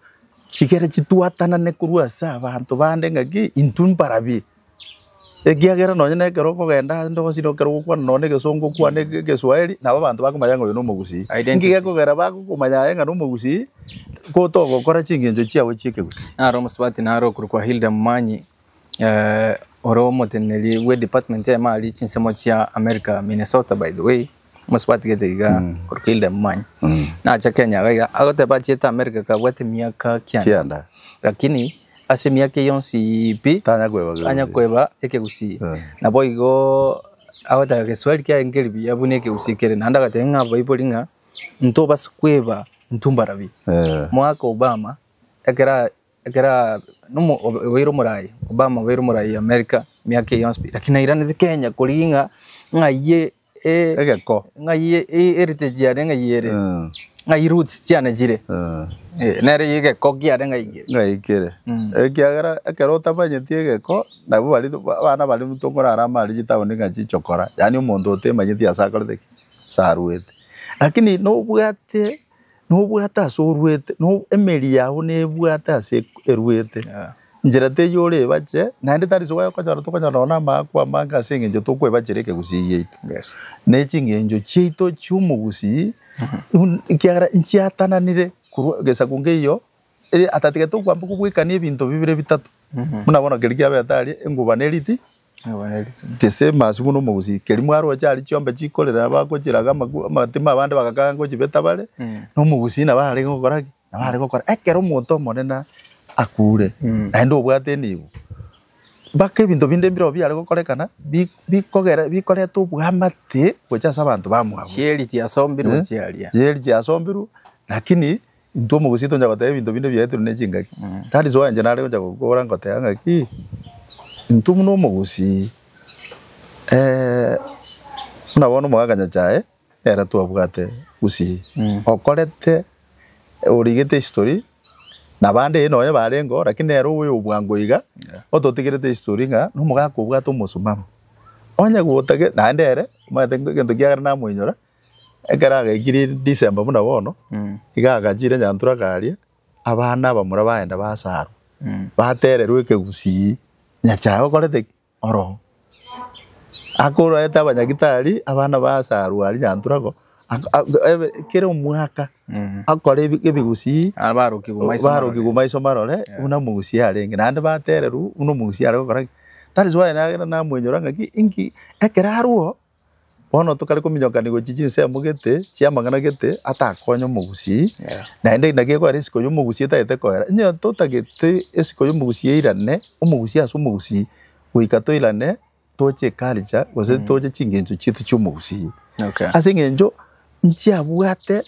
chigere chitwatanane korwa ase abanto bande ng'a ki? Intwe mbarabi. Ekiagera nonye na ekero okogenda ase indogosi na ekero ogokwana nonye na egesongo okwane ege- egeswahili, nabo abanto bakomanya ng'a oyo na omogusii. Nki gekogera bagokomanya aye ng'a na omogusii? Kotogokora chingencho chiabo chi'ekegusii. Naro omosubati naro okorokwa Hilda Momanyi, Ore omoteneneri bwe department y'emari chinsemo chia America, Minnesota by the way, mosubati gete iga Orkilde momanye, nacha Kenya iga iga agoteba achiete America kabwate emiaka kianda, lakini ase emiaka eyio yonsi pi, tanya kweba ekegusii, nabo igo agoteba egeswahili kiaye nkeri buya buna ekegusii kere, naende agateba ng'a abaibori ng'a ntobasa kweba ntumbarabie, mwaka Obama ekero. Ekero obeire omoraai, Obama obeire omoraai America emiaka eye yonsi pi, lakini nairaneti Kenya korigia ng'a ng'ayie egeko, ng'ayie heritage yane ng'ayie ere, ng'ayie roots chiane chire, nere egeko kiane ng'ayie. Ng'ayie kere, ekiagera ekero otamanyeti egeko, nabo baria abana baria tokorara amo aria chitaoni ng'a chichokora, yaani omonto otemanyeti ase akorete ki? Ase arwete. Lakini nobwate Nobwate ase orwete, no, emeri yao nebwate ase erwete, enchera teyio orebache, naende tari ase goekonyora tokonyora nonya na amaakwa amange ase eng'encho tokoebachera ekegusii giaito. Yes. Ne ching'encho chiaito chi'omogusii, bun- ekiagera nchiatananire korwa egesaku nkeiyo, ere atatigete okoambeka obwekani ebinto bibere bitato, buna bono keria kiabete aria, enguba ne riti, Gese masio buna omogusii, keri mwaroche aria chiombe chikorera abagochiraga amakwa amatima abande bagakana gochibeta bare, na omogusii nabo arenge gokora ki? Nabo are gokora ekero omonto omonene akuure naende obwate enibo. Mpaka ebinto binde mbirobio biare gokorekana bi- bikogera bikoreta obwamate gocha ase abanto bamwabo. Chieri chiasombirwe Eh? chiaria. Chieri chiasombirwe lakini Intwe omogusii toncha goteba ebinto binde biaetirwe ne chingaki. That is why inche nare goncha gokobora ngoteba ng'aki, intwe buna omogusii, buna bono omogaka Nyachae ere twabwate gusii, okorete, origete history, na abande eeh nonye barengeo, lakini nere obe obwango iga, ototigerete history ng'a nomogaka obwate omosimamo. Onye gotake, naende ere omanyete egento kiagera namoinyora. Ekero agaikire December buna bono, iga agachire Nyantura akaria, abana abamura bagenda basarwa, batererwa ekegusii, Nyachae okorete ki? Oroo. Akorete abanyagitari, abana basarwa aria Nyantura ko, kera omwaka akore ebigusii, barokigwe maiso marore buna omogusii arenge, naende batererwa buna omogusii are gokora ki? That is why nagenda namwenyora ng'aki, inki? Ekero arwo Bono tokare kominyokanigwa echi chinsemo gete chiamang'ana gete atakonya omogusii, naende eri naki ekorera esiko y'omogusii etagete koera. Onye totagete esiko y'omogusii yairane omogusii ase omogusii, goika toirane toche eculture gose toche chingencho chiaito chi'omogusii. Ase eng'encho nchiabwate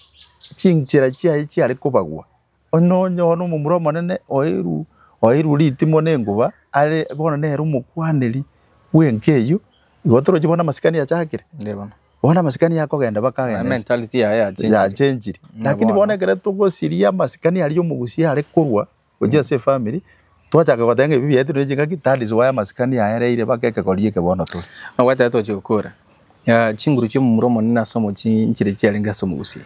chinchera chiaye chiare kobagwa. Onye onyora omomura omonene oeirwe oeirwe ritimo na enguba, are bono nere omokwaneri bw'enka eyio, igo torochi bono amasikani achakire? Onde bono. Bono amasikani akogenda Naye bakagenda ense mentality yaye yachenchire. yachenchire. Buna Lakini bono bono. ekero togosiria amasikani aria omogusia are korwa gochia ase efamiri, twachaka goteba ng'a ebi biaetire ne chingaki, that is why amasikani aereire baka ekegori eke bono tore. Nabwate ekero togochia gokora, chinguru chi'omomura omonene ase omochie nchire chiarenge ase omogusia.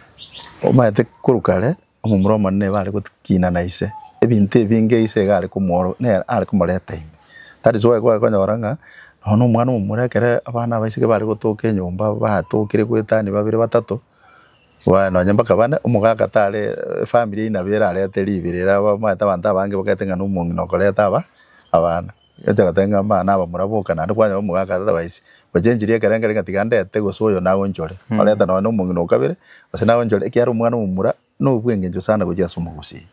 Omanyete korwa kare, Omomura omonene igo are gotiina na ise, ebinto ebinge ise igo are komooro, nere are komoreta ime. That is why kwagekonyora ng'a nonya na omwana omomura ekero abana abaiseke bare gotoka enyomba batokire goetania babere batato, baya nonya mpaka bane, omogaka tare efamiri eywo nabo erarete ribere, ere abamanyete abanto abange bagete ng'a na omong'ina okoreta aba abana. Yeso agatebia ng'a, Abana aba moraboka naende kwanyora omogaka ase Dabaisi, gochia enchiri y'ekerengere ng'a tiga ndete gose oyo naonchore, orente nonya omong'ina o kabere, gose naonchore, ekiagera omwana omomura nobw'engencho sana gochia ase omogusii.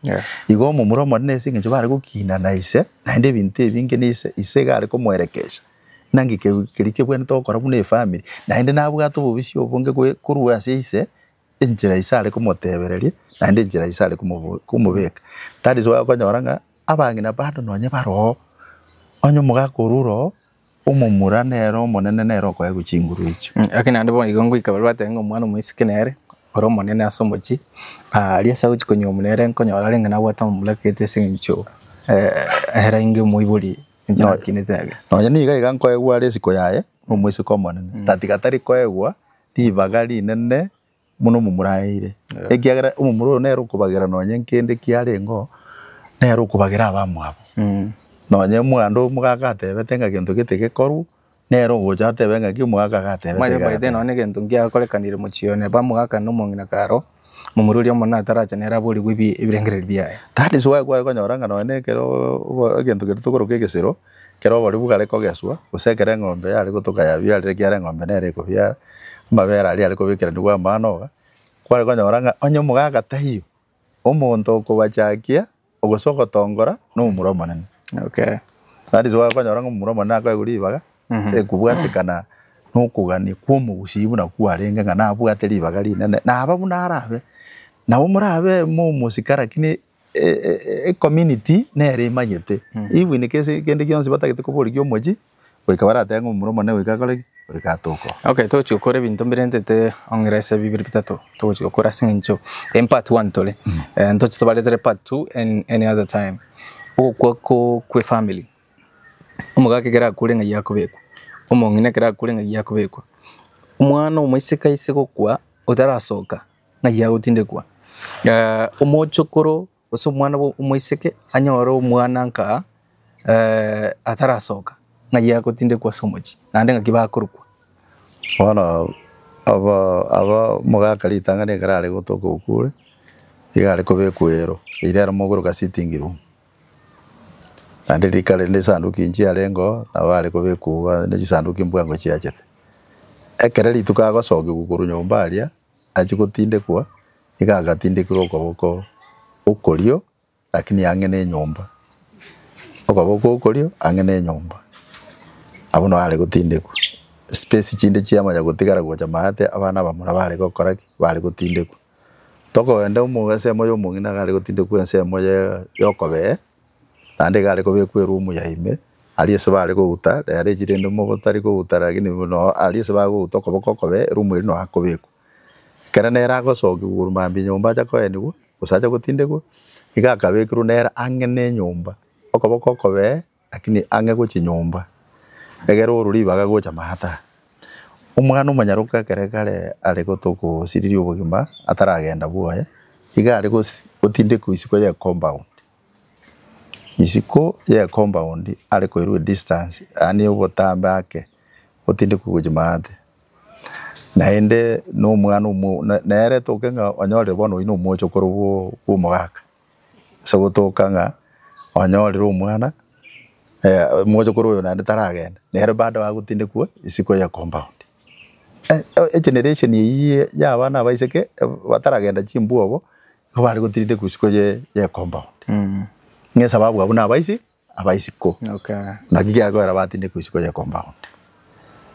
Igo omomura omonene ase engencho bare gokiina na ise, naende ebinto ebinge na ise, ise iga are komoerekesha. Naki keru keria kebwenerete gokora buna efamiri, naende nabwate obobisi obonge goe korwa ase ise, enchera ise are komotebereria, naende enchera ise are komobo komobeka. That is why okonyora ng'a. Abang'ina bande nonye baroo, onye omogaka orwo ore oo omomura nere omonene nere okoegwa chinguru echio. Gaki naende bono igo ngoika baria bateba ng'a omwana omoiseke nere ore omonene ase omochie, aria ase agochia konyuomwa nere nkonyora arenge nabwate amamlaka ete ase eng'encho ere inge omoibori ninche nakinete age. Nonye nigo iga nkoegwa are isiko yaye omoiseke omonene, tatiga tari koegwa ribaga rinene. buna omomoraeire, ekiagera omomura oyo nere okobagera nonye nkende kiarengeo, nere okobagera abamwabo. Nonye omwando omogaka atebete ng'a gento gete gekorwe, nere ogocha atebe ng'a ki omogaka iga atebete Manye iga omanyete atebete. nonye egento ngiakorekanire mochie oyo neba omogaka na omong'ina karo, omomura oria omonene atarache nere aborigwe ebi- ebirengererio biaye. That is why kware konyora ng'a nonye na ekero obo- egento keria tokoroka egesero, Ekero oboribu gare kogeswa, gose ekero eng'ombe yare gotoka yabiarire ekiagera eng'ombe nere ekobiara, amabere aria are kobekeranigwa amanoga, kware konyora ng'a onye omogaka taiyo, omonto okobachakia gose ogotongora na omomura omonene. Okay. That is why okonyora ng'a omomura omonene akoegwa ribaga ekobwatekana na okogania kwa omogusii buna kwarenge ng'a nabwate ribaga rinene, naba buna arabe. Nabo morabe mo omosike lakini Ecommunity nere emanyete ebuinike ase kende gionsi batagete koborigia omochie goika baratebe ng'a omura omonene goika akore ki? Goika atoke oo. Okay togochi gokora ebinto mbirentete ong'ira ase bibere bitato togochi gokora ase eng'encho in part one tore ntoche tobaretere part two any other time. Ogokwa ko kwe family omogaka ekero akure ng'ai akobekwa, omong'ina ekero akure ng'ai akobekwa, omwana omoiseke aise gokwa otarasoka. Ng'ai agotindekwa omochokoro gose omwana omoiseke anyore omwana nka atarasoka, ng'ai agotindekwa ase omochie naende ng'aki bakorokwa. Bono omogaka ritang'ani ekero are gotoka okure, nigo are kobekwa ero, eira ero mogokoroka sitting room, naende rika rende esanduki nchiarenge oo nabo are kobekwa iga ne chisanduki mbwango chiachete. Ekero rituko agosokiwa korwa nyomba aria, achia gotindekwa, nigo agatindekirwa okoboko okorio, lakini ang'e nenyomba, okoboko okorio ang'e nenyomba, abwo nao are gotindekwa. Space chinde chiamanya gotigara gocha maate, abana abamura bare gokora ki? bare gotindekwa. Tokogenda omo ensemo ya omong'ina nigo are gotindekwa ensemo ya ya okobee. Naende egare kobekwa erumu ya ime, aria ase bare kouta rearechi rende mogondo tari kouta rakini buna aria ase bare kouta okoboko okobe erumu eria noyo akobekwa. Ekero nere agosokia korwa mambia nyomba acha koenigwa gose acha gotindegwa nigo akabekirwe nere ang'e ne enyomba okoboko okobe rakini ang'e gochia nyomba egere orwe ribaga gocha maate aa. Omwana omonyaroke ekero kare are gotogosiriria obogima ataragenda bwoye, iga are gotindekwa isiko ye compound. Isiko ye compound are koirwa edistance yaani obotambe ake otindekwe gochia maate. Naende nomwana omwo nere toke ng'a onyorire bono oyio nomochokoro bwa omogaka. Ase gotoka ng'a onyorire omwana, mochokoro oyo naende taragende, nere baada agotindekwa isiko ya compound. Egeneration eyio ya abana abaiseke bataragenda chimbwogo, nigo bare gotindekwa isiko ye compound, ng'a esababu abwo nabaise Aba isiko, naki kiakoera batindekwa isiko y'ekomba onde.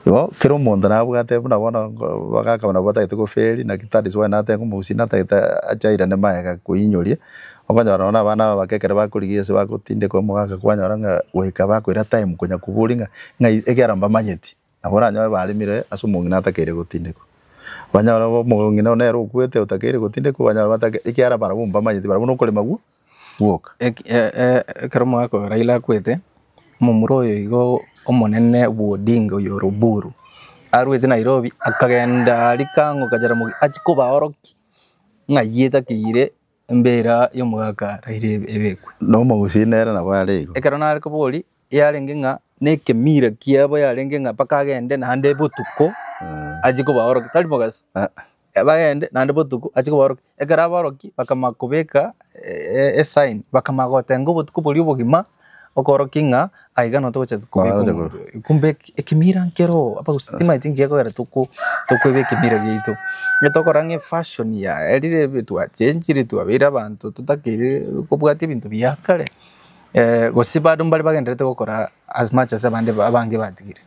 Igo kera omonto nabwate buna bono bagaka nabo batagete goferi naki that is why natete omogusii natagete ache airane magega koinyoria. Okonyora nonya na abana aba abake ekero bakorigia ase bagotindekwa omogaka kwanyora ng'a goika bakoira time konya koboria ng'a ng'ai ekiagera mbamanyeti. Nabo oranyore baremire ase omong'ina atakeire gotindekwa. Banyore obe omong'ina nere okwete otakeire gotindekwa, banyore batake, ekiara barabwo mbamanyeti barabwo nokorema gwo gwoka. Ekero omogaka oyo Raila akwete, omomura oyo igo omonene bwa Odinga oyo ore Oburu, arwete Nairobi akagenda aria kang'o ka Jaramogi achie kobaorokia ng'ai etakeire embera y'omogaka Raila ebekwe. Nomogusii nere nabo are igo. Ekero nare koboria yarenge ng'a nekemira kiabo yarenge ng'a mpaka agende naende botuko achie kobaorokia tari mogaso bagende naende botuko achie kobaorokia ekero abaorokia bakamanya kobeka e- esign bakamanya gotenga ng'a obotuko boria obogima okorokia ng'a aiga nonya togocha kobeka omonto oyo kumbe eke- ekemira nkere oo abagusii timanyeti nkegokera toko tokoeba ekemira giaito onye tokora ng'a efashion yaerire twachenchire twabeire abanto totakeire kobwati ebinto bia kare. Gose bado mbare bagendererete gokora as much as abande abange batigire?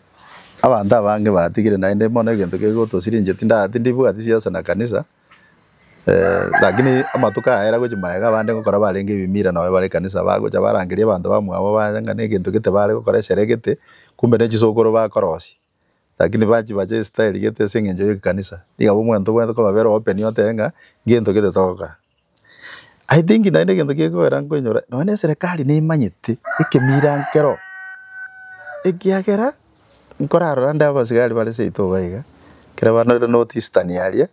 Abanto abange batigire naende bono egento kegotosiringia tinda tindibwati siasa na kanisa lakini amatuko aya era gochia magega abande ngokora barenge ebimira nabo bare ekanisa bagocha barangeria abanto bamwabo baye ng'a na egento gete bare gokora esere egete kumbe ne chisokoro bakorosia. Lakini bachia bacha ase style gete ase eng'encho y'ekekanisa, nigo abwo omanyete obwenerete kobabera open otebe ng'a ngento gete togokora. I think naende egento kegokera nkoinyora, nonya na eserekari nemanyete ekemira nkero, ekiagera nkorarora ande abasigari bare seito iga iga, ekero baanore north eastern aria,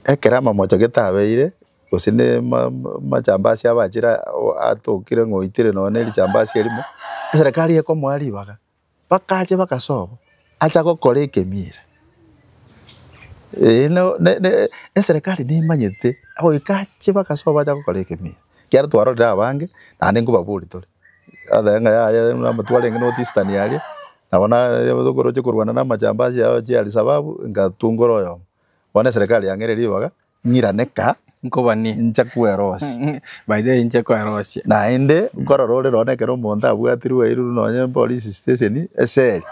ekero amamocho gete abeire, gose ne ma- ma- machambasi abachire a- o atokire ng'a oitire nonya na erichambasi erimo, eserekari ekomoa ribaga. Bakacha bagasoba, acha gokora ekemiira. Eeh no ne ne eserekari nemanyete goika ache bagasoba acha gokora ekemiira. Ekiagera twarorire abange, naende nkobaboria tore, oteba ng'a yaya buna amato arenge North Eastern aria, nabo naye tokoroche korwana na amajambazi ao chia Al-Shabaab, ngatungora oyomo. Bono eserekari yang'eire ribaga. ng'iraneka, Nkobani. inche kwerosia. By the way inche kwerosia. Naende nkorora ore nonye ekero omonto abwatirwe airwe nonye police station eseli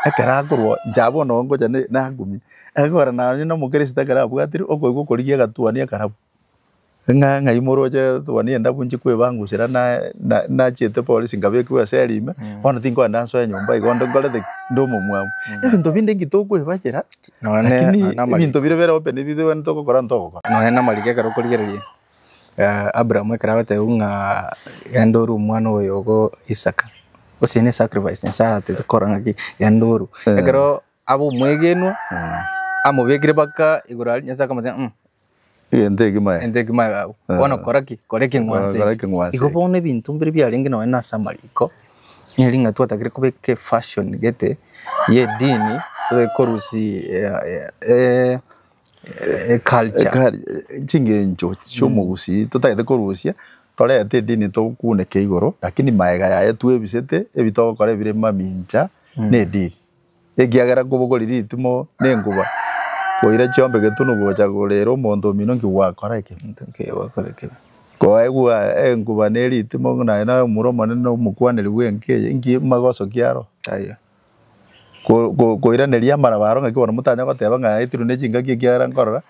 ekero akorwa incha bono ngocha ne- nagumia ekero nonye na omokristo ekero abwatirwe okoigwa okorigia egatuani ekarabu ng'a ng'ai moroche etuani endabu inche kwebangusera naye na- nachiete polisi nkabekigwa eseli ime bono tinkoenda nsoe nyomba igo onde nkorete ki? nde omomwamu. Ebinto binde nki tokoebachera. Nonye Lakini na- namariko. ebinto bire bere open ebi gento ogokora gento ogokora. Nonye namariko ekero okorigereria eh, Abraham ekero agotebiwa ng'a genda orue omwana oyo ogo Isaka, gose eye ne sacrifice Nyasae aratete kora ng'aki genda orue. Ekero abe omwegenwa, amobekire mpaka igoro aria, Nyasae akamotebia ng'a mm, Egento eke maye. Egento eke maye gago. Eh. Bono kora ki? Kora ekeng'wanso Kora eke. ekeng'wanso Igo eke. bono ebinto mbire biarenge nonye na ase amariko, nere ng'a twatagire kobeka efashion gete ya edini, tobe korusia eh, eh, eh, eculture. Ekari, chingencho chiomogusii totagete korusia, torete edini tokuneke igoro, lakini maega yaye twebisete, ebi togokora ebire mamincha na edini. Ekiagera nkobogorire ritimo na enguba, koira chiombe getunu gocha korera omonto omino nki gwakora ekeminto nkeya gwakora ekebi. Koegwa enguba ne ritimo ng'a naye naye omura omonene na omokwaneri bw'enka eye, nki magosokia aro? Taiyo. Ko ko koiraneria amaraba aro ng'aki bono motanya goteba ng'a aetirwe ne chingaki ekiagera nkorora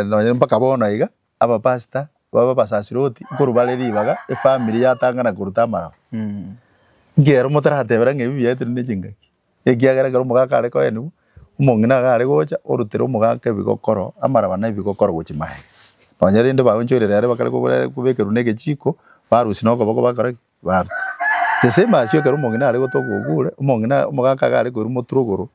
nonye mpaka bono iga. Abapastor babe abasasiroti nkorwa bare ribaga efamiri yatang'ana koruta amaraba. Nki ero motaratebera ng'a ebi biaetire ne chingaki? Ekiagera ekero omogaka are koenigwa, omong'ina iga are gocha orutera omogaka ebigokoro amaraba na ebigokoro gochia maega. Nonye rende baonchoirera ere bakare kobora kobekerwa ne egechiko, barusia na okoboko bakora ki? Baruta. The same as ekero omong'ina are gotoka ogure, omong'ina omogaka iga are koirwa moturuguru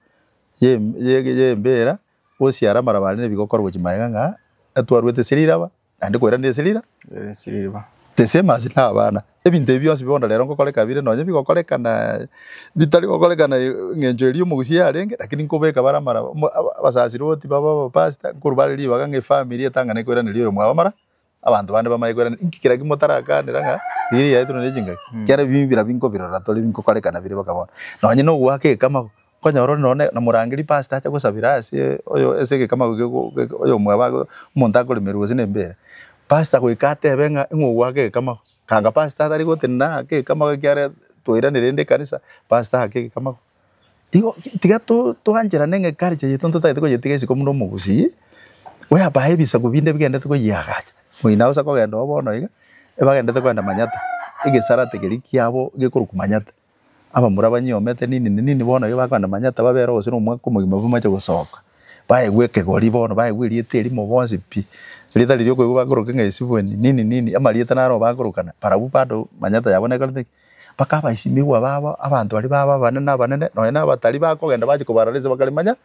ye ye ye embera Gosiara amaraba aria nebigo korwa gochia magega ng'a etwarwete esira iraba naende koera nde esira ira ere esira iriba. Tesema ase na abana. Ebinto ebi bionsi bono rero ngokoreka bire nonye bigokorekana bitari gokorekana engencho eria omogusia yarenge lakini nkobeka bare amaraba abasasiroti babe abapastor nkorwa bare ribaga ng'a efamiri etang'ane koiraneria oyo mwabo amara Abanto bande bamanye koiraneria inki kera kimotaragakanera ng'a riria riaetwe nere chingaki. Ekiagera ebi mbira binkobirora tore binkokoreka nabire mpaka bono. Nonye nogoaka ekamau, okonyora ore nonye ne nomorangeri pastor ache gosabera ase oyo ase egekamau geko geke oyo omwabo ago omonto akoremerwa gose na embeera. Pastor goika atebe ng'a ing'o ogoaka egekamau. Kanga pastor tari gotenena ake ekamau ekiagera twairaneria rende ekanisa, pastor ake egekamau. Igo tiga twancherane ng'a eculture yaito ntotagete koyetiga isiko buna omogusii, bwebae ebisaku binde bigenderete koyeagacha. Oyino agosa kogenda oo bono iga, ebagendete kogenda manyatta, egesarate keria kiabo gekorokwa manyatta. Abamura banyiomete nini na nini bono iga bakogenda manyatta babe ere gose na omwaka omogima bamache gosoka, baegwe ekegori bono, baegwe erieta erimo bonsi pi, rieta riria okoigwa bakoroka ng'a esibweni, nini nini, amarieta naro bakorokana, barabwo bado manyatta yabo nekorete ki? Bakaba esimigwa babo abanto baria babo abanene abanene nonya na abatari bakogenda bache kobarora ense bakarimanya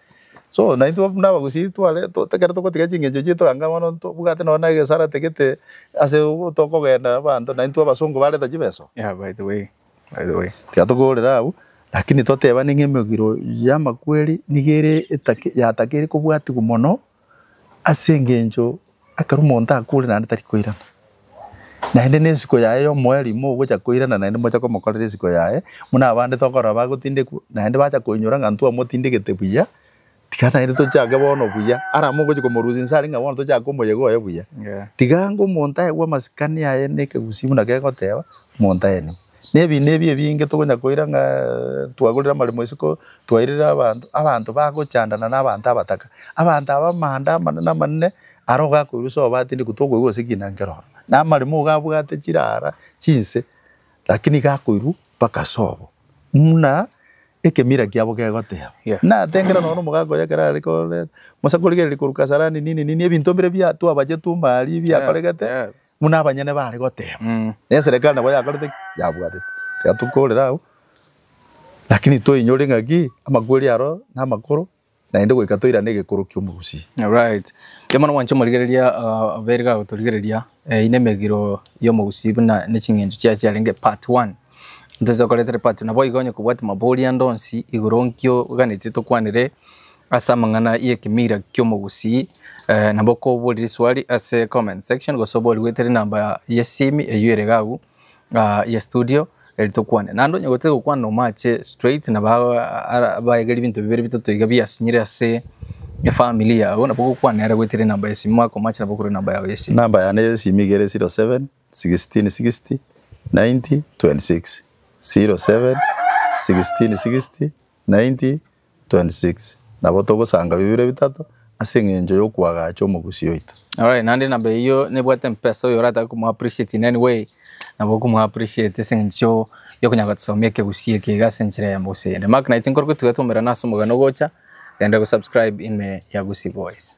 so naintwe buna abagusii tware ekero togotiga chingencho chiaito anga bono ntobwate nonya na egesara tagete ase tokogenda abanto naintwe abasongo bareta chibeso Yeah by the way by the way tiga togorera abwo lakini totebane ng'a emegiro ya amakweri niga ere etake yatakeire kobwatigwa mono Ase engencho ekero omonto akure naende tari koirana, naende na ensiko yaye ya omoerio ogocha koirana naende mocha komokorera ensiko yaye, buna abande tokorora bagotindekwa naende bacha koinyora ng'a intwe twamotindegete buya, tiga naende tochake bono buya. Arama ogochi komorusia inse aria ng'a bono tochake komoyegoya buya. Tiga ng'a omonto aigwe amasikani aye na ekegusii buna kegoteba, omonto aenigwe. Nebinto ebi ebinge tokonya koira ng'a twagorire amaremo isiko, twairire abanto, abanto bagochandana na abanto abataka. Abanto aba amanda amanene amanene are ogakoirwa ase obatindi kotwa okoigwa gose kina nkero ororo. Na amaremo ogabwate chirara chinse lakini iga akoirwa mpaka ase obo muna ekemira kiabo kegoteba. Yeah. Natengera nonya na omogaka oye ekero are koreta, mosa korigereria korwa Kasarani nini nini ebinto mbire bia twabache tumari biakoregete. Yeah. Buna abanyene baare goteeba, Mm. na eserekari nabo yakorete ki? Yabwatete. Tiga tokorera agwo, lakini toinyore ng'aki amakweri aro namakoro, naende goika toirane egekoro ki'omogusii. Alright. Erio mono mwanche morigereria ah, abairi gagotorigereria eh, ine emegiro y'omogusii buna ne ching'encho chiaye chiarenge part one. Ntoche gokoreta repatio. Naboigo onye kobwate mabori ande onsi igoro nki oganetie tokwanere ase amang'ana y'ekemira kiomogusii nabo kobori riswari ase comment section gose obori goeta rinamba y'esimi eywo erege agwo ya studio eri tokwane. Naende onye gotari gokwana nomache straight nabo abaege ribinto bibere bitato iga biasinyire ase efamiri yago nabo gokwana nere goeta rinamba y'esimi mware komache nabo korwa rinamba yago y'esimi. Namba yane y'esimi igere zero seven. sixteen sixty ninety twenty six zero seven sixteen sixty ninety twenty six nabo togosanga bibere bitato ase eng'encho y'okoagacha omogusii oito. Alright naende namba eyio nebwate mpesa oyo oratake komo appreciate in any way nabo okomo appreciate ase eng'encho ya okonyara gotosomia ekegusii eke iga ase enchera eyemo gose eyende. Mark naitwe nkoroke tugetomerana ase omogano ogocha, genda go subscribe ime ya Gusii Boys.